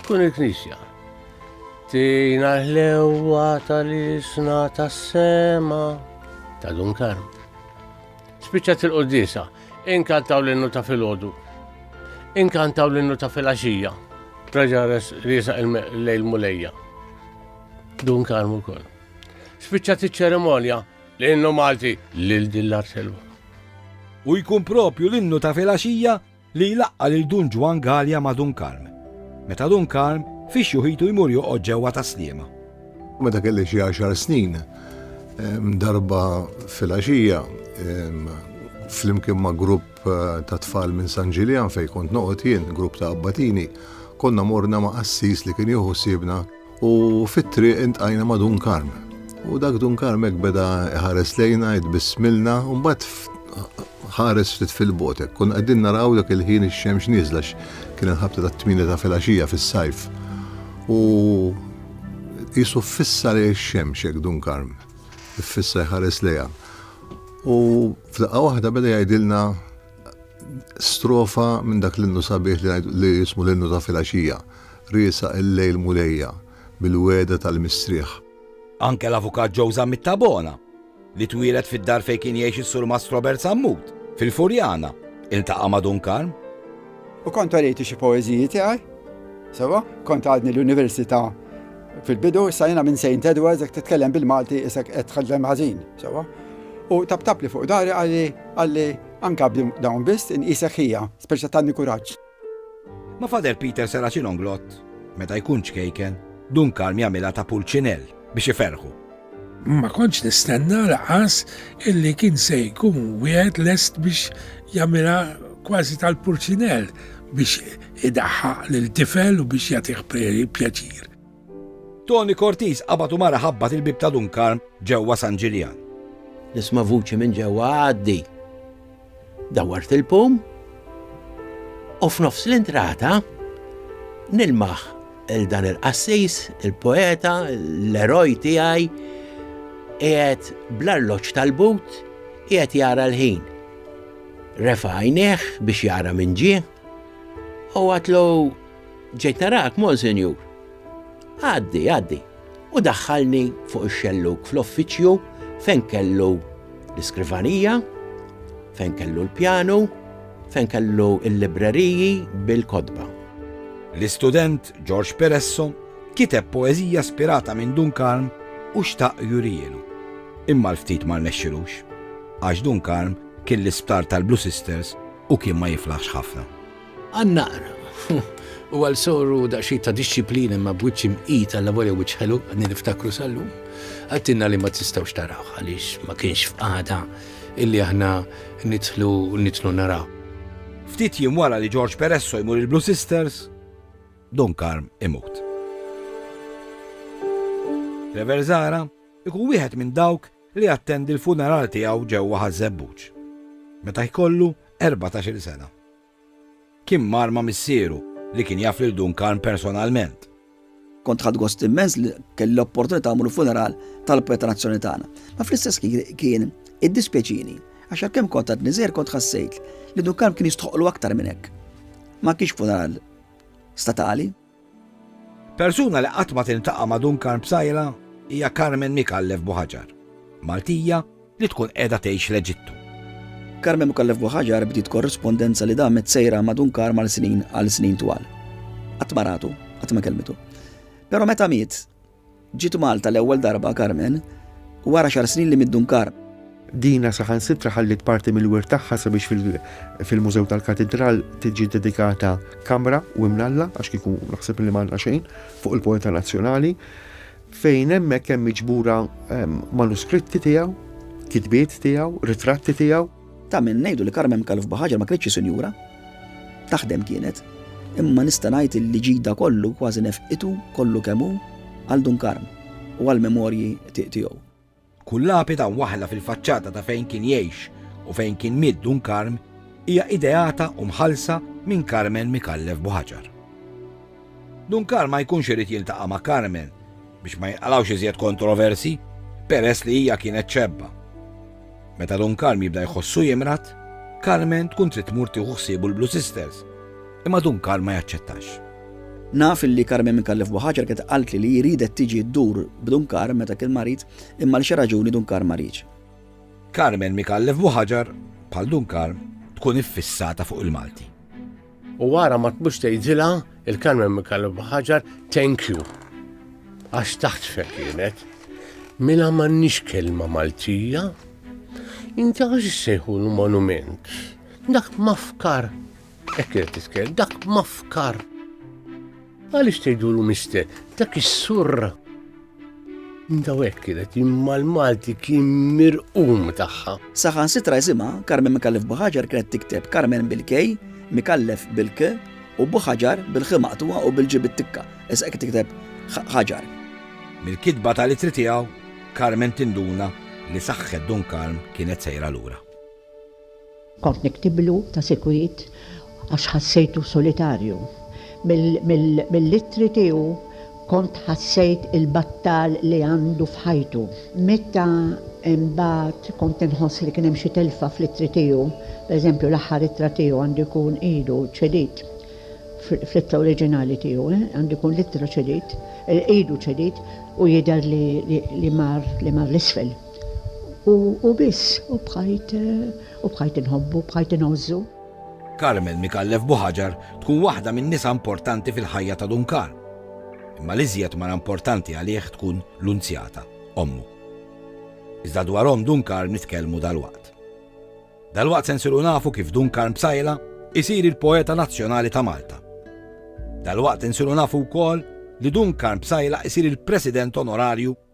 Tkun il-Knisja. Tina l-ħlewwa tal-isna tas-sema ta' dun karm. Spiċċat il-qoddisa, inkantaw l-innu ta' filgħodu, inkantaw l-innu ta' filgħaxija, traġa risa il-lejl mulejja. Dun karm ukoll. Spiċċat iċ-ċerimonja l-innu Malti lil din l-arselwa. U jkun propju l-innu ta' filgħaxija li jlaqqa' lil Dun Ġwann Galea ma' Dun Karm, meta Dun Karm fi xjuħitu jmur joqgħod ġewwa Tas-Sliema. Meta kelli xi għaxar snin, darba filgħaxija, flimkien ma' grupp ta' tfal minn San Ġiljan fejn kont noqgħod jien, grupp ta' abbatini, konna morna ma' qassis li kien jieħu ħsiebna. U fit-triq intqajna ma' Dun Karm. U dak Dun Karm hekk beda ħares lejna, jitbismilna, u mbagħad ħares ftit fil-botek. Kun qegħdin naraw dak il-ħin ix-xemx nieżla kien il-ħabta tat-tmieni ta' filgħaxija fis-sajf. U qisu fissa lejn ix-xemx hekk Dun Karm. Iffissa jħares lejha. U f'daqqa waħda beda jgħidilna Strofa minn dak l-innu sabiħ li jismu l-innu ta' filgħaxija, riesaq il-lejl Mulejja bil-wegħda tal-mistrieħ. Anke l-Avukat Joe Zammit Tabona, li twieled fid-dar fejn kien jgħix is-Surmast Robert Sammut, fil-Furjana, iltaqa' ma' Dun Karm. U kont orejtu xi poeżiji tiegħi, sewwa, kont għadni l-Università fil-bidu, issa jiena minn Saint Edwards, jekk titkellem bil-Malti isek qed tħaddem ħażin. Sewwa. U taptapli fuq dahri qalli, qalli, Anka b'din dawn biss inqisek ħija, speċi ta' tanni kuraġġ. Ma' Father Peter sera xi nonglot, meta jkun ċkejken, Dun Karm jagħmilha ta' pulċinell biex iferrħu. Ma kontx nistenna lanqas illi kien se jkun wieħed lest biex jagħmilha kważi tal-pulċinell biex idaħħaq lil tifel u biex jagħtih pjaċir. Toni Cortis qabad u mar iħabbat il-bieb ta' Dun Karm ġewwa San Ġiljan. Nisma' vuċi minn ġewwa Għaddi! Dawwart il-pum u f'nofs l-intrata nilmaħ 'l dan il-qassis, il-poeta, l-eroj tiegħi qiegħed bl-arloġġ tal-but qiegħed jara l-ħin. Refa' għajnejh biex jara minn ġie u għatlu Ġejt narak, Monsinjur. Għaddi, għaddi. U daħħalni fuq ix-xellug fl-offiċju fejn kellu l-iskrivanija, fejn kellu l-pjanu, fejn kellu l-libreriji bil-kotba. L-istudent George Peresso kiteb poeżija spirata minn Dun Karm u xtaq jurihielu. Imma l-ftit ma rnexxilux, għax Dun Karm kien l-isptar tal-Blue Sisters u kien ma jiflaħx ħafna. Għan-naqra. U għal sorru daqsxejn ta' dixxiplina imma b'wiċċ imqid għal lavorja wiċċ ħelu għadni niftakru sal-lum. Għattinna li ma tistgħux tarawh għaliex ma kienx f'qagħda illi aħna nidħlu nidħlu naraw. Ftit jiem wara li George Peresso jmur il-Blue Sisters, Don Karm imut. Rever Zara ikun wieħed minn dawk li attendi l-funeral tiegħu ġewwa ħażebbuġ. Meta jkollu 14 sena. Kien mar ma' missieru, li kien jaf lil Dun Karm personalment. Kont ħadt gost immens li kelli l-opportunità mmur il-funeral tal-poeta nazzjonali tagħna. Ma fl-istess kien iddispjaċini għax għalkemm kont għadni żgħir kont ħassejt li Dun Karm kien jistħoqqlu aktar minn hekk. Ma kienx funeral statali. Persuna li qatt ma tiltaqa' ma' Duncan Psaila hija Carmen Micallef Buhajar, Maltija li tkun qiegħda tgħix l-Eġittu. Carmen Micallef Buhajar bdiet korrispondenza li damet sejra ma' Duncan mal-snin għal snin twal. Qatt ma ratu, qatt ma kellmitu. Però meta miet, Ġiet Malta l-ewwel darba Carmen wara xahar snin li mid-Dunkar. Dina saħansitra ħalliet parti mill-wirt tagħha sabiex fil-Mużew tal-Katidral tiġi ddedikata kamra u imnalla, għax kieku naħseb li m'għandna xejn, fuq il-poeta nazzjonali, fejn hemmhekk hemm miġbura manuskritti tiegħu, kitbiet tiegħu, ritratti tiegħu. Ta' min ngħidu li Carmen Calv Bahajer ma kinitx xi sinjura. Taħdem kienet. Imma nista' ngħid illi ġid da kollu kważi nefqitu kollu kemm hu għal Dun Karm u għall-memorji tiegħu. Kull lapida mwaħħla fil-faċċata ta' fejn kien jgħix u fejn kien miet Dun Karm hija ideata u mħallsa minn Carmen Micallef Buhajar. Dun Karl ma jkunx irid jiltaqa' ma' Carmen biex ma jinqalgħux iżjed kontroversji peress li hija kienet xebba. Meta Dun Karl jibda jħossu jimrad, Carmen tkun trid tmur tieħu ħsiebu l-Blue Sisters, imma Dun Karl ma jaċċettax. Naf li Carmen Micallef Buhaġar kienet qaltli li hi riedet tiġi ddur b'Dun Karl meta kien marid, imma għal xi raġuni Dun Karl ma riedx. Carmen Micallef Buhaġar, bħal Dun Karl, tkun iffissata fuq il-Malti. U wara ma tmux tgħidilha il-Carmen Mikallef Baħaġar thank you. Għax taħt kienet. Mela m'għandniex kelma Maltija. Inti għax sejħu l-monument. Dak mafkar. Ekk titkell, dak mafkar. Għaliex tgħidulu mister, dak is-surra. Daw hekk kienet imma l-Malti kien mirqum tagħha. Saħan sitra jisimha Carmen Mikallef Buħaġar kienet tikteb Carmen bil-K, Mikallef bil-K u Buħaġar bil-Ħ maqtuha u bil-Ġi bit-tikka. Issa hekk tikteb ħaġar. Mill-kitba tal-itri tiegħu, Carmen tinduna li saħħet Dun Karm kienet sejra lura. Kont niktiblu ta' sikwit għax ħassejtu solitarju. Mill-ittri tiegħu kont ħassejt il-battal li għandu f'ħajtu. Meta imbagħad kont inħoss li kien hemm xi telfa fl-ittri tiegħu, pereżempju l-aħħar ittra tiegħu għandu jkun ilu ċedit fl-ittra oriġinali tiegħu, għandu jkun l-ittra ċedit, ilu ċedit u jidher li mar l-isfel. U biss, u bqajt, u bqajt inħobbu, bqajt ingħożżu. Carmel Micallef Buhaġar tkun waħda min-nisa importanti fil-ħajja ta' Dun Karm. Imma l-iżjed mara importanti għalih tkun Lunzjata, ommu. Iżda dwar omm Dun Karm nitkellmu dalwaqt. Dalwaqt se nsiru nafu kif Dun Karm Psaila isir il-poeta nazzjonali ta' Malta. Dalwaqt insiru nafu wkoll li Dun Karm Psaila isir il-President Onorarju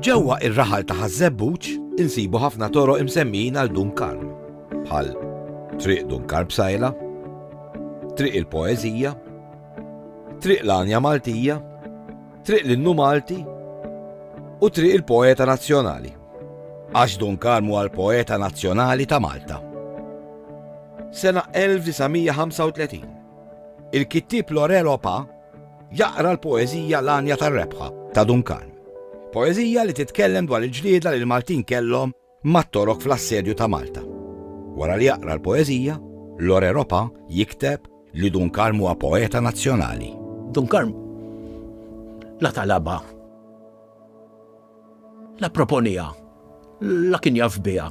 Ġewwa ir-raħal ta' Ħaż-Żebbuġ insibu ħafna toroq imsemmijin għal Dun Karm, bħal Triq Dun Karm Sajla, Triq il-Poeżija, Triq l-Anja Maltija, Triq l-Innu Malti u Triq il-Poeta Nazzjonali. Għax Dun Karm huwa l-poeta nazzjonali ta' Malta. Sena 1935 Il-kittieb Laurel Opa jaqra l-poeżija L-Għanja tar-Rebħa ta' Dun Karm. Poeżija li titkellem dwar il-ġlieda li l-Maltin kellhom mat-Torok fl-Assedju ta' Malta. Wara li jaqra l-poeżija, Laurel Opa jikteb li Dun Karm huwa poeta nazzjonali. Dun Karm la talabha, la pproponiha, la kien jaf biha.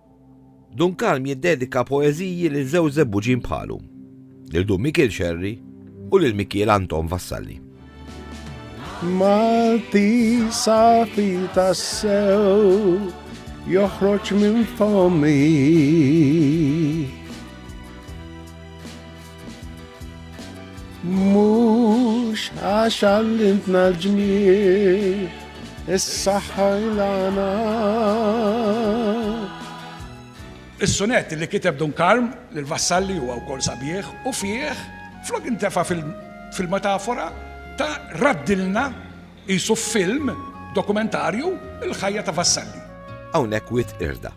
Dun Kalm jiddedika poeżiji lil żewġ żebbuġin bħalu, lil Dun Mikiel Xerri u lil Mikiel Anton Vassalli. Malti safi tassew joħroġ minn fomi. Mhux għax għallintna l-ġmiel, is-saħħa ilana. Is-sunet li kiteb Dun Karm lil Vassalli huwa wkoll sabiħ u fih flok intefa fil-metafora ta' raddilna jisu film dokumentarju il-ħajja ta' Vassalli. Hawnhekk wit irda.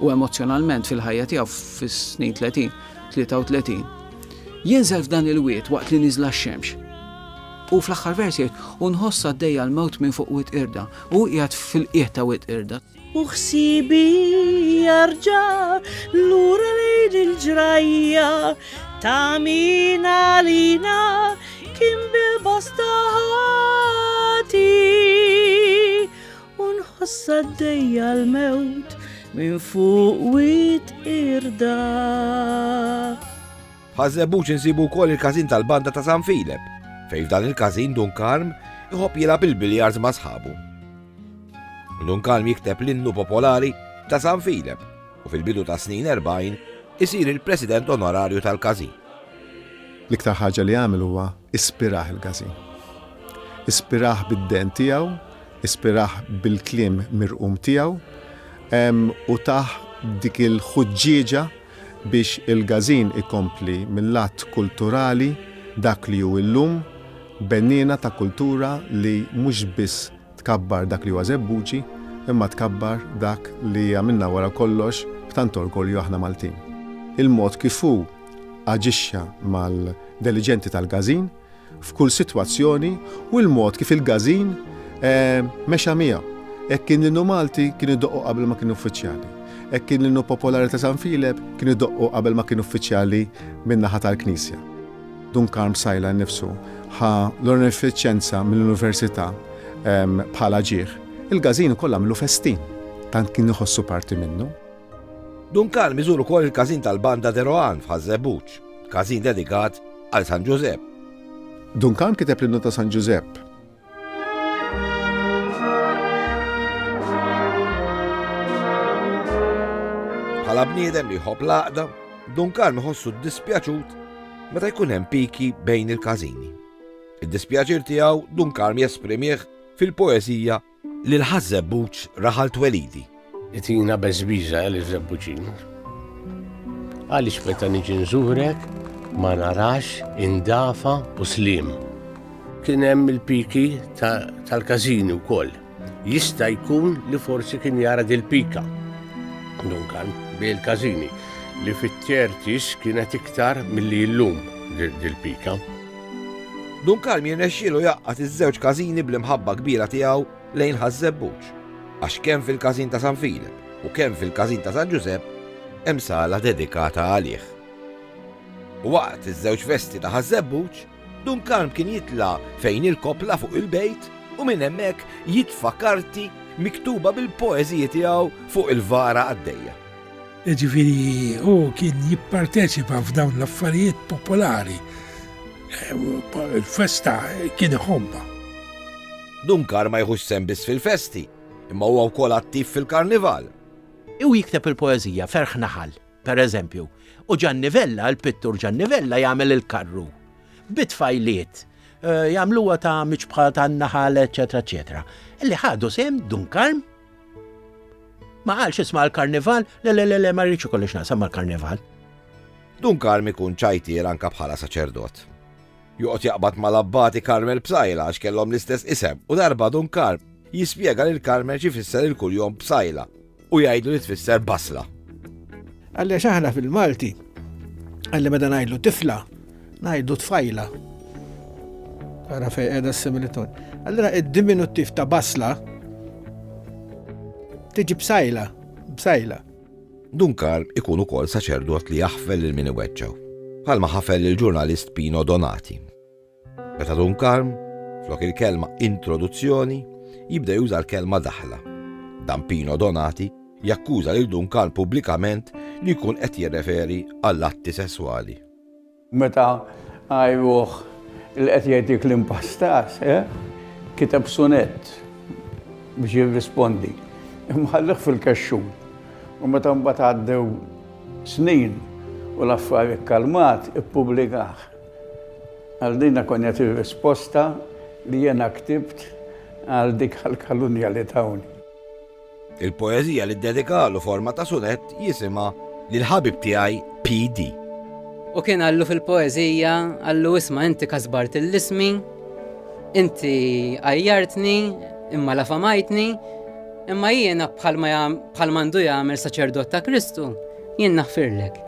u emozzjonalment fil-ħajja tiegħu fis-snin 30, 33, jinżel f'dan il-wied waqt li niżla x-xemx. U fl-aħħar vers jgħid, u nħoss għaddejja l-mewt minn fuq wit irda, u qiegħed fil-qiegħ ta' wit irda. U ħsibi jarġa lura lejn il-ġrajja ta' min għalina kien bil-bosta ħati. U nħoss għaddejja l-mewt minn fuq wit irda. Ħażebuċ insibu wkoll il-każin tal-banda ta' San Filep, fejn f'dan il-każin Dun Karm iħobb jilgħab il-biljars ma' sħabu. Dun Karm jikteb l-innu popolari ta' San Filep u fil-bidu ta' snin 40 isir il-President Onorarju tal-Każin. L-iktar ħaġa li għamel huwa ispirah il-każin. Ispirah bid-dehn tiegħu Ispirah bil-kliem mirqum tiegħu u tah dik il-ħuġġieġa biex il-Gażin ikompli mil-lat kulturali dak li hu llum, benniena ta' kultura li mhux biss tkabbar dak li huwa Żebbuġi imma tkabbar dak li għamilna wara kollox b'tant orgolju aħna Maltin. Il-mod kif hu aġixxa mal-deliġenti tal-Gażin, f'kull sitwazzjoni u l-mod kif il-Gażin mexa miegħu. Hekk kien l-innu Malti kien idoqqu qabel ma kien uffiċjali. Hekk kien l-innu popolari ta' San Filep kien idoqqu qabel ma kien uffiċjali min-naħa tal-Knisja. Dun Karm Psaila nnifsu ħa l-onorifiċenza mill-Università bħala ġieħ. Il-Gażin ukoll għamlu festin, tant kien iħossu parti minnu. Duncan miżur ukoll il-każin tal-Banda de Rohan f'Ħaż Żebbuġ, każin dedikat għal San Ġużepp. Duncan kiteb l-innu ta' San Ġużepp. Bħala bniedem li jħobb l-għaqda, Duncan iħossu dispjaċut meta jkun hemm piki bejn il-każini. Id-dispjaċir tiegħu Duncan jesprimih fil-poeżija Lil Ħaż Żebbuġ raħal twelidi. Itina beżbiża Eli Żebbuġin. Għaliex meta niġi nżurek ma narax indafa u slim. Kien hemm il-piki tal-każini wkoll. Jista' jkun li forsi kien jara dil-pika. Dunkan, bil-każini li fit-tertis kienet iktar milli llum dil-pika. Dun Karm jirnexxielu jgħaqqad iż-żewġ każini bl-imħabba kbira tiegħu lejn Ħaż-Żebbuġ, għax kemm fil-każin ta' San Filep u kemm fil-każin ta' San Ġużepp hemm sala dedikata għalih. Waqt iż-żewġ festi ta' Ħaż-Żebbuġ, Dun Karm kien jitla' fejn il-koppla fuq il-bejt u minn hemmhekk jitfa' karti miktuba bil-poeżiji tiegħu fuq il-vara qaddejja. Jiġifieri hu kien jipparteċipa f'dawn l-affarijiet popolari. Il-festa kien iħobba. Dunkar ma jħux sem biss fil-festi, imma huwa wkoll attiv fil-karnival. Hu jikteb il-poeżija Ferħ Naħal, per eżempju, u Ġanni Vella, il-pittur Ġanni Vella jagħmel il-karru. Bi tfajliet, eh, jagħmluha ta' miċbħa tan-naħal, eċetera, eċetera. Li ħadu sem Dunkarm Ma qalx isma' l-karnival, le le le le ma rridx ikollix naqsam mal-karnival. Dun Karm ikun ċajtier anka bħala saċerdot. Joqgħod jaqbad mal-abbati Karmel Psaila għax kellhom l-istess isem u darba Dun Karm jispjega lil Karmel xi fisser il-kuljom Psaila u jgħidlu li tfisser basla. Għaliex aħna fil-Malti, għalli meta ngħidlu tifla, Ngħidu tfajla. Ara fej qiegħda s-similitun. Allura id-diminuttiv ta' basla tiġi bsajla, bsajla. Dunkar ikun ukoll saċerdot li jaħfel lil min iweġġaw, bħalma ħafel il-ġurnalist Pino Donati. Meta Dunkar, flok il-kelma introduzzjoni, jibda juża l-kelma daħla. Dan Pino Donati jakkuża lil Dunkar pubblikament li jkun qed jirreferi għall-atti sesswali. Meta għajruh li qed jgħidlek l-impastas, kiteb sunett biex jirrispondi. Imma ħallih fil-kexxun. U meta mbagħad għaddew snin u l-affar ikkalmat, ippubblikah. Għal din kon jagħti r-risposta li jiena ktibt għal dik għall-kalunja li tawni. Il-poeżija li ddedikalu forma ta' sunett jisimha Lill-Ħabib Tiegħi PD. U kien qallu fil-poeżija, qallu isma' inti kasbart ill-ismi, inti għajjartni, imma la famajtni, imma jiena bħal m'għandu jagħmel saċerdot ta' Kristu, jien naħfirlek.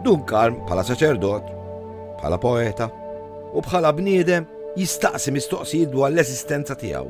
Dun Karm bħala saċerdot, bħala poeta u bħala bniedem jistaqsi mistoqsijiet dwar l-eżistenza tiegħu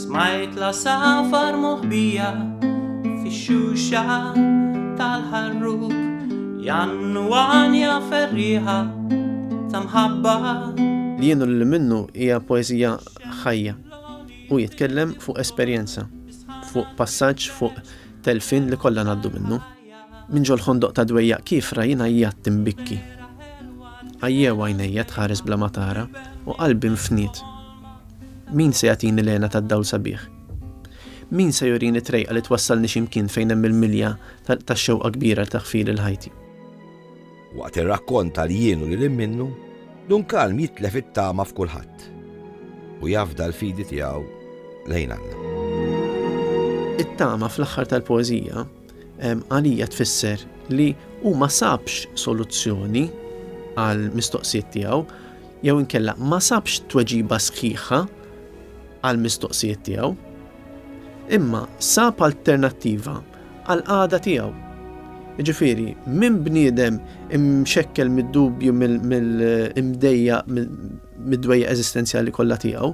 Smajt l-għasafar moħbija fix-xuxa tal-ħarrub jgħannu għanja ferrieħa ta' mħabba. Li jien u lil minnu hija poeżija ħajja. Hu jitkellem fuq esperjenza, fuq passaġġ, fuq telfien li kollha ngħaddu minnu. Minn ġol-ħondoq ta' dwejjaq kiefra jien għajjat imbikki. Għajjew għajnejja tħares bla ma tara u qalbi nfniet. Min se jagħtini l-għena tad-dawl sabiħ? Min se jurini trejqa li twassalni x'imkien fejn hemm il-milja tax-xewqa kbira li taħfili l-ħajti? Waqt ir-rakkont tal-jien u lil minnu, Dun Kalm jitlef it-tama f'kulħadd u jafda l-fidi tiegħu lejn Alla. It-tama fl-aħħar tal-poeżija Għalija tfisser li hu ma sabx soluzzjoni għal mistoqsijiet tiegħu jew inkella ma sabx tweġiba sħiħa għal mistoqsijiet tiegħu. Imma sab alternattiva għal qada tiegħu. Ġifieri, minn bniedem imxekkel mid-dubju mill-imdejja mid-dwejja eżistenzjali kollha tiegħu,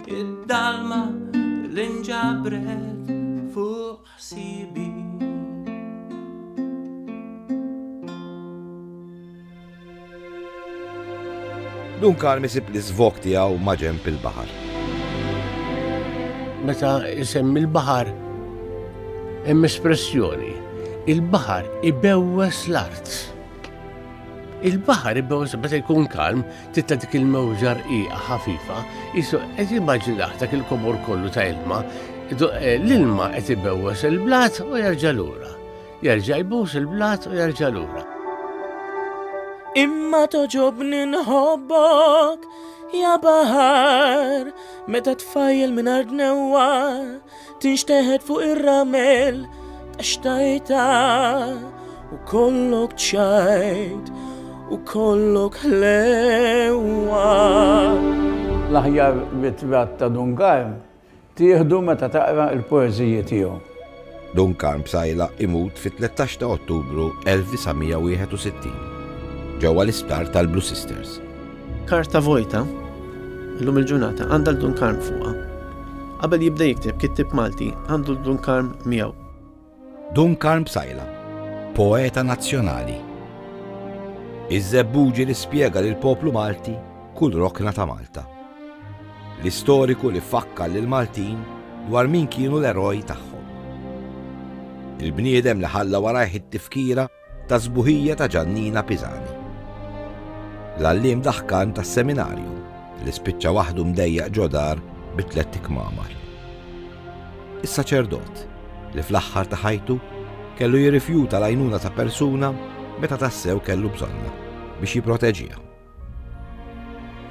Id-dalma li nġabret fuq ħsibi. Dun Karm isib li zvok tiegħu maġem il-baħar. Meta isem il-baħar hemm espressjoni il-baħar ibewwes l-art. Il-baħar ibbewż meta jkun kalm, titta dik il-mewġa rqiqa ħafifa, jisu qed jimmaġinaħ dak il-kobor kollu ta' ilma, eh, l-ilma qed ibewwes il-blat u jerġa' lura. Jerġa' jbus il-blat u jerġa' lura. Imma toġobni nħobbok, ja baħar, meta tfajjel minn ardnewa, tinxteħet fuq ir-ramel ta' xtajta u kollok ċajt u kollok ħlewa. L-aħjar ritratt ta' Dun Karm tieħdu meta taqra l-poeżiji tiegħu. Dun Karm Psaila imut fit-13 ta' Ottubru 1961, ġewwa l-isptar tal-Blue Sisters. Karta vojta, illum il-ġurnata, għandha l-Dunkarm fuqha. Qabel jibda jikteb kittib Malti għandu l-Dunkarm miegħu. Dunkarm Bsajla, poeta nazzjonali. Iż-żebbuġi li spjega lil poplu Malti kull rokna ta' Malta. L-istoriku li fakkar lil Maltin dwar min kienu l-eroj tagħhom. Il-bniedem li ħalla warajh it-tifkira Tas-sbuħija ta' Ġannina Pisani. L-għalliem daħkan tas-seminarju li spiċċa waħdu mdejjaq ġo dar bi tlett ikmamar. Is-saċerdot li fl-aħħar ta' ħajtu kellu jirrifjuta l-għajnuna ta' persuna meta tassew kellu bżonna biex jipproteġiha.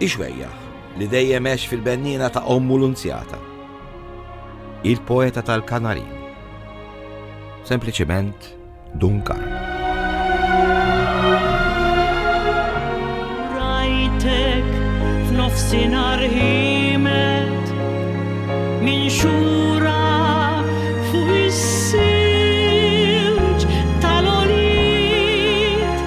Ixwejjaħ li dejjem għex fil-benniena ta' ommu l-unzjata. Il-poeta tal-Kanarin. Sempliċiment Duncan. Rajtek f'nofsinhar ħimet minn xhur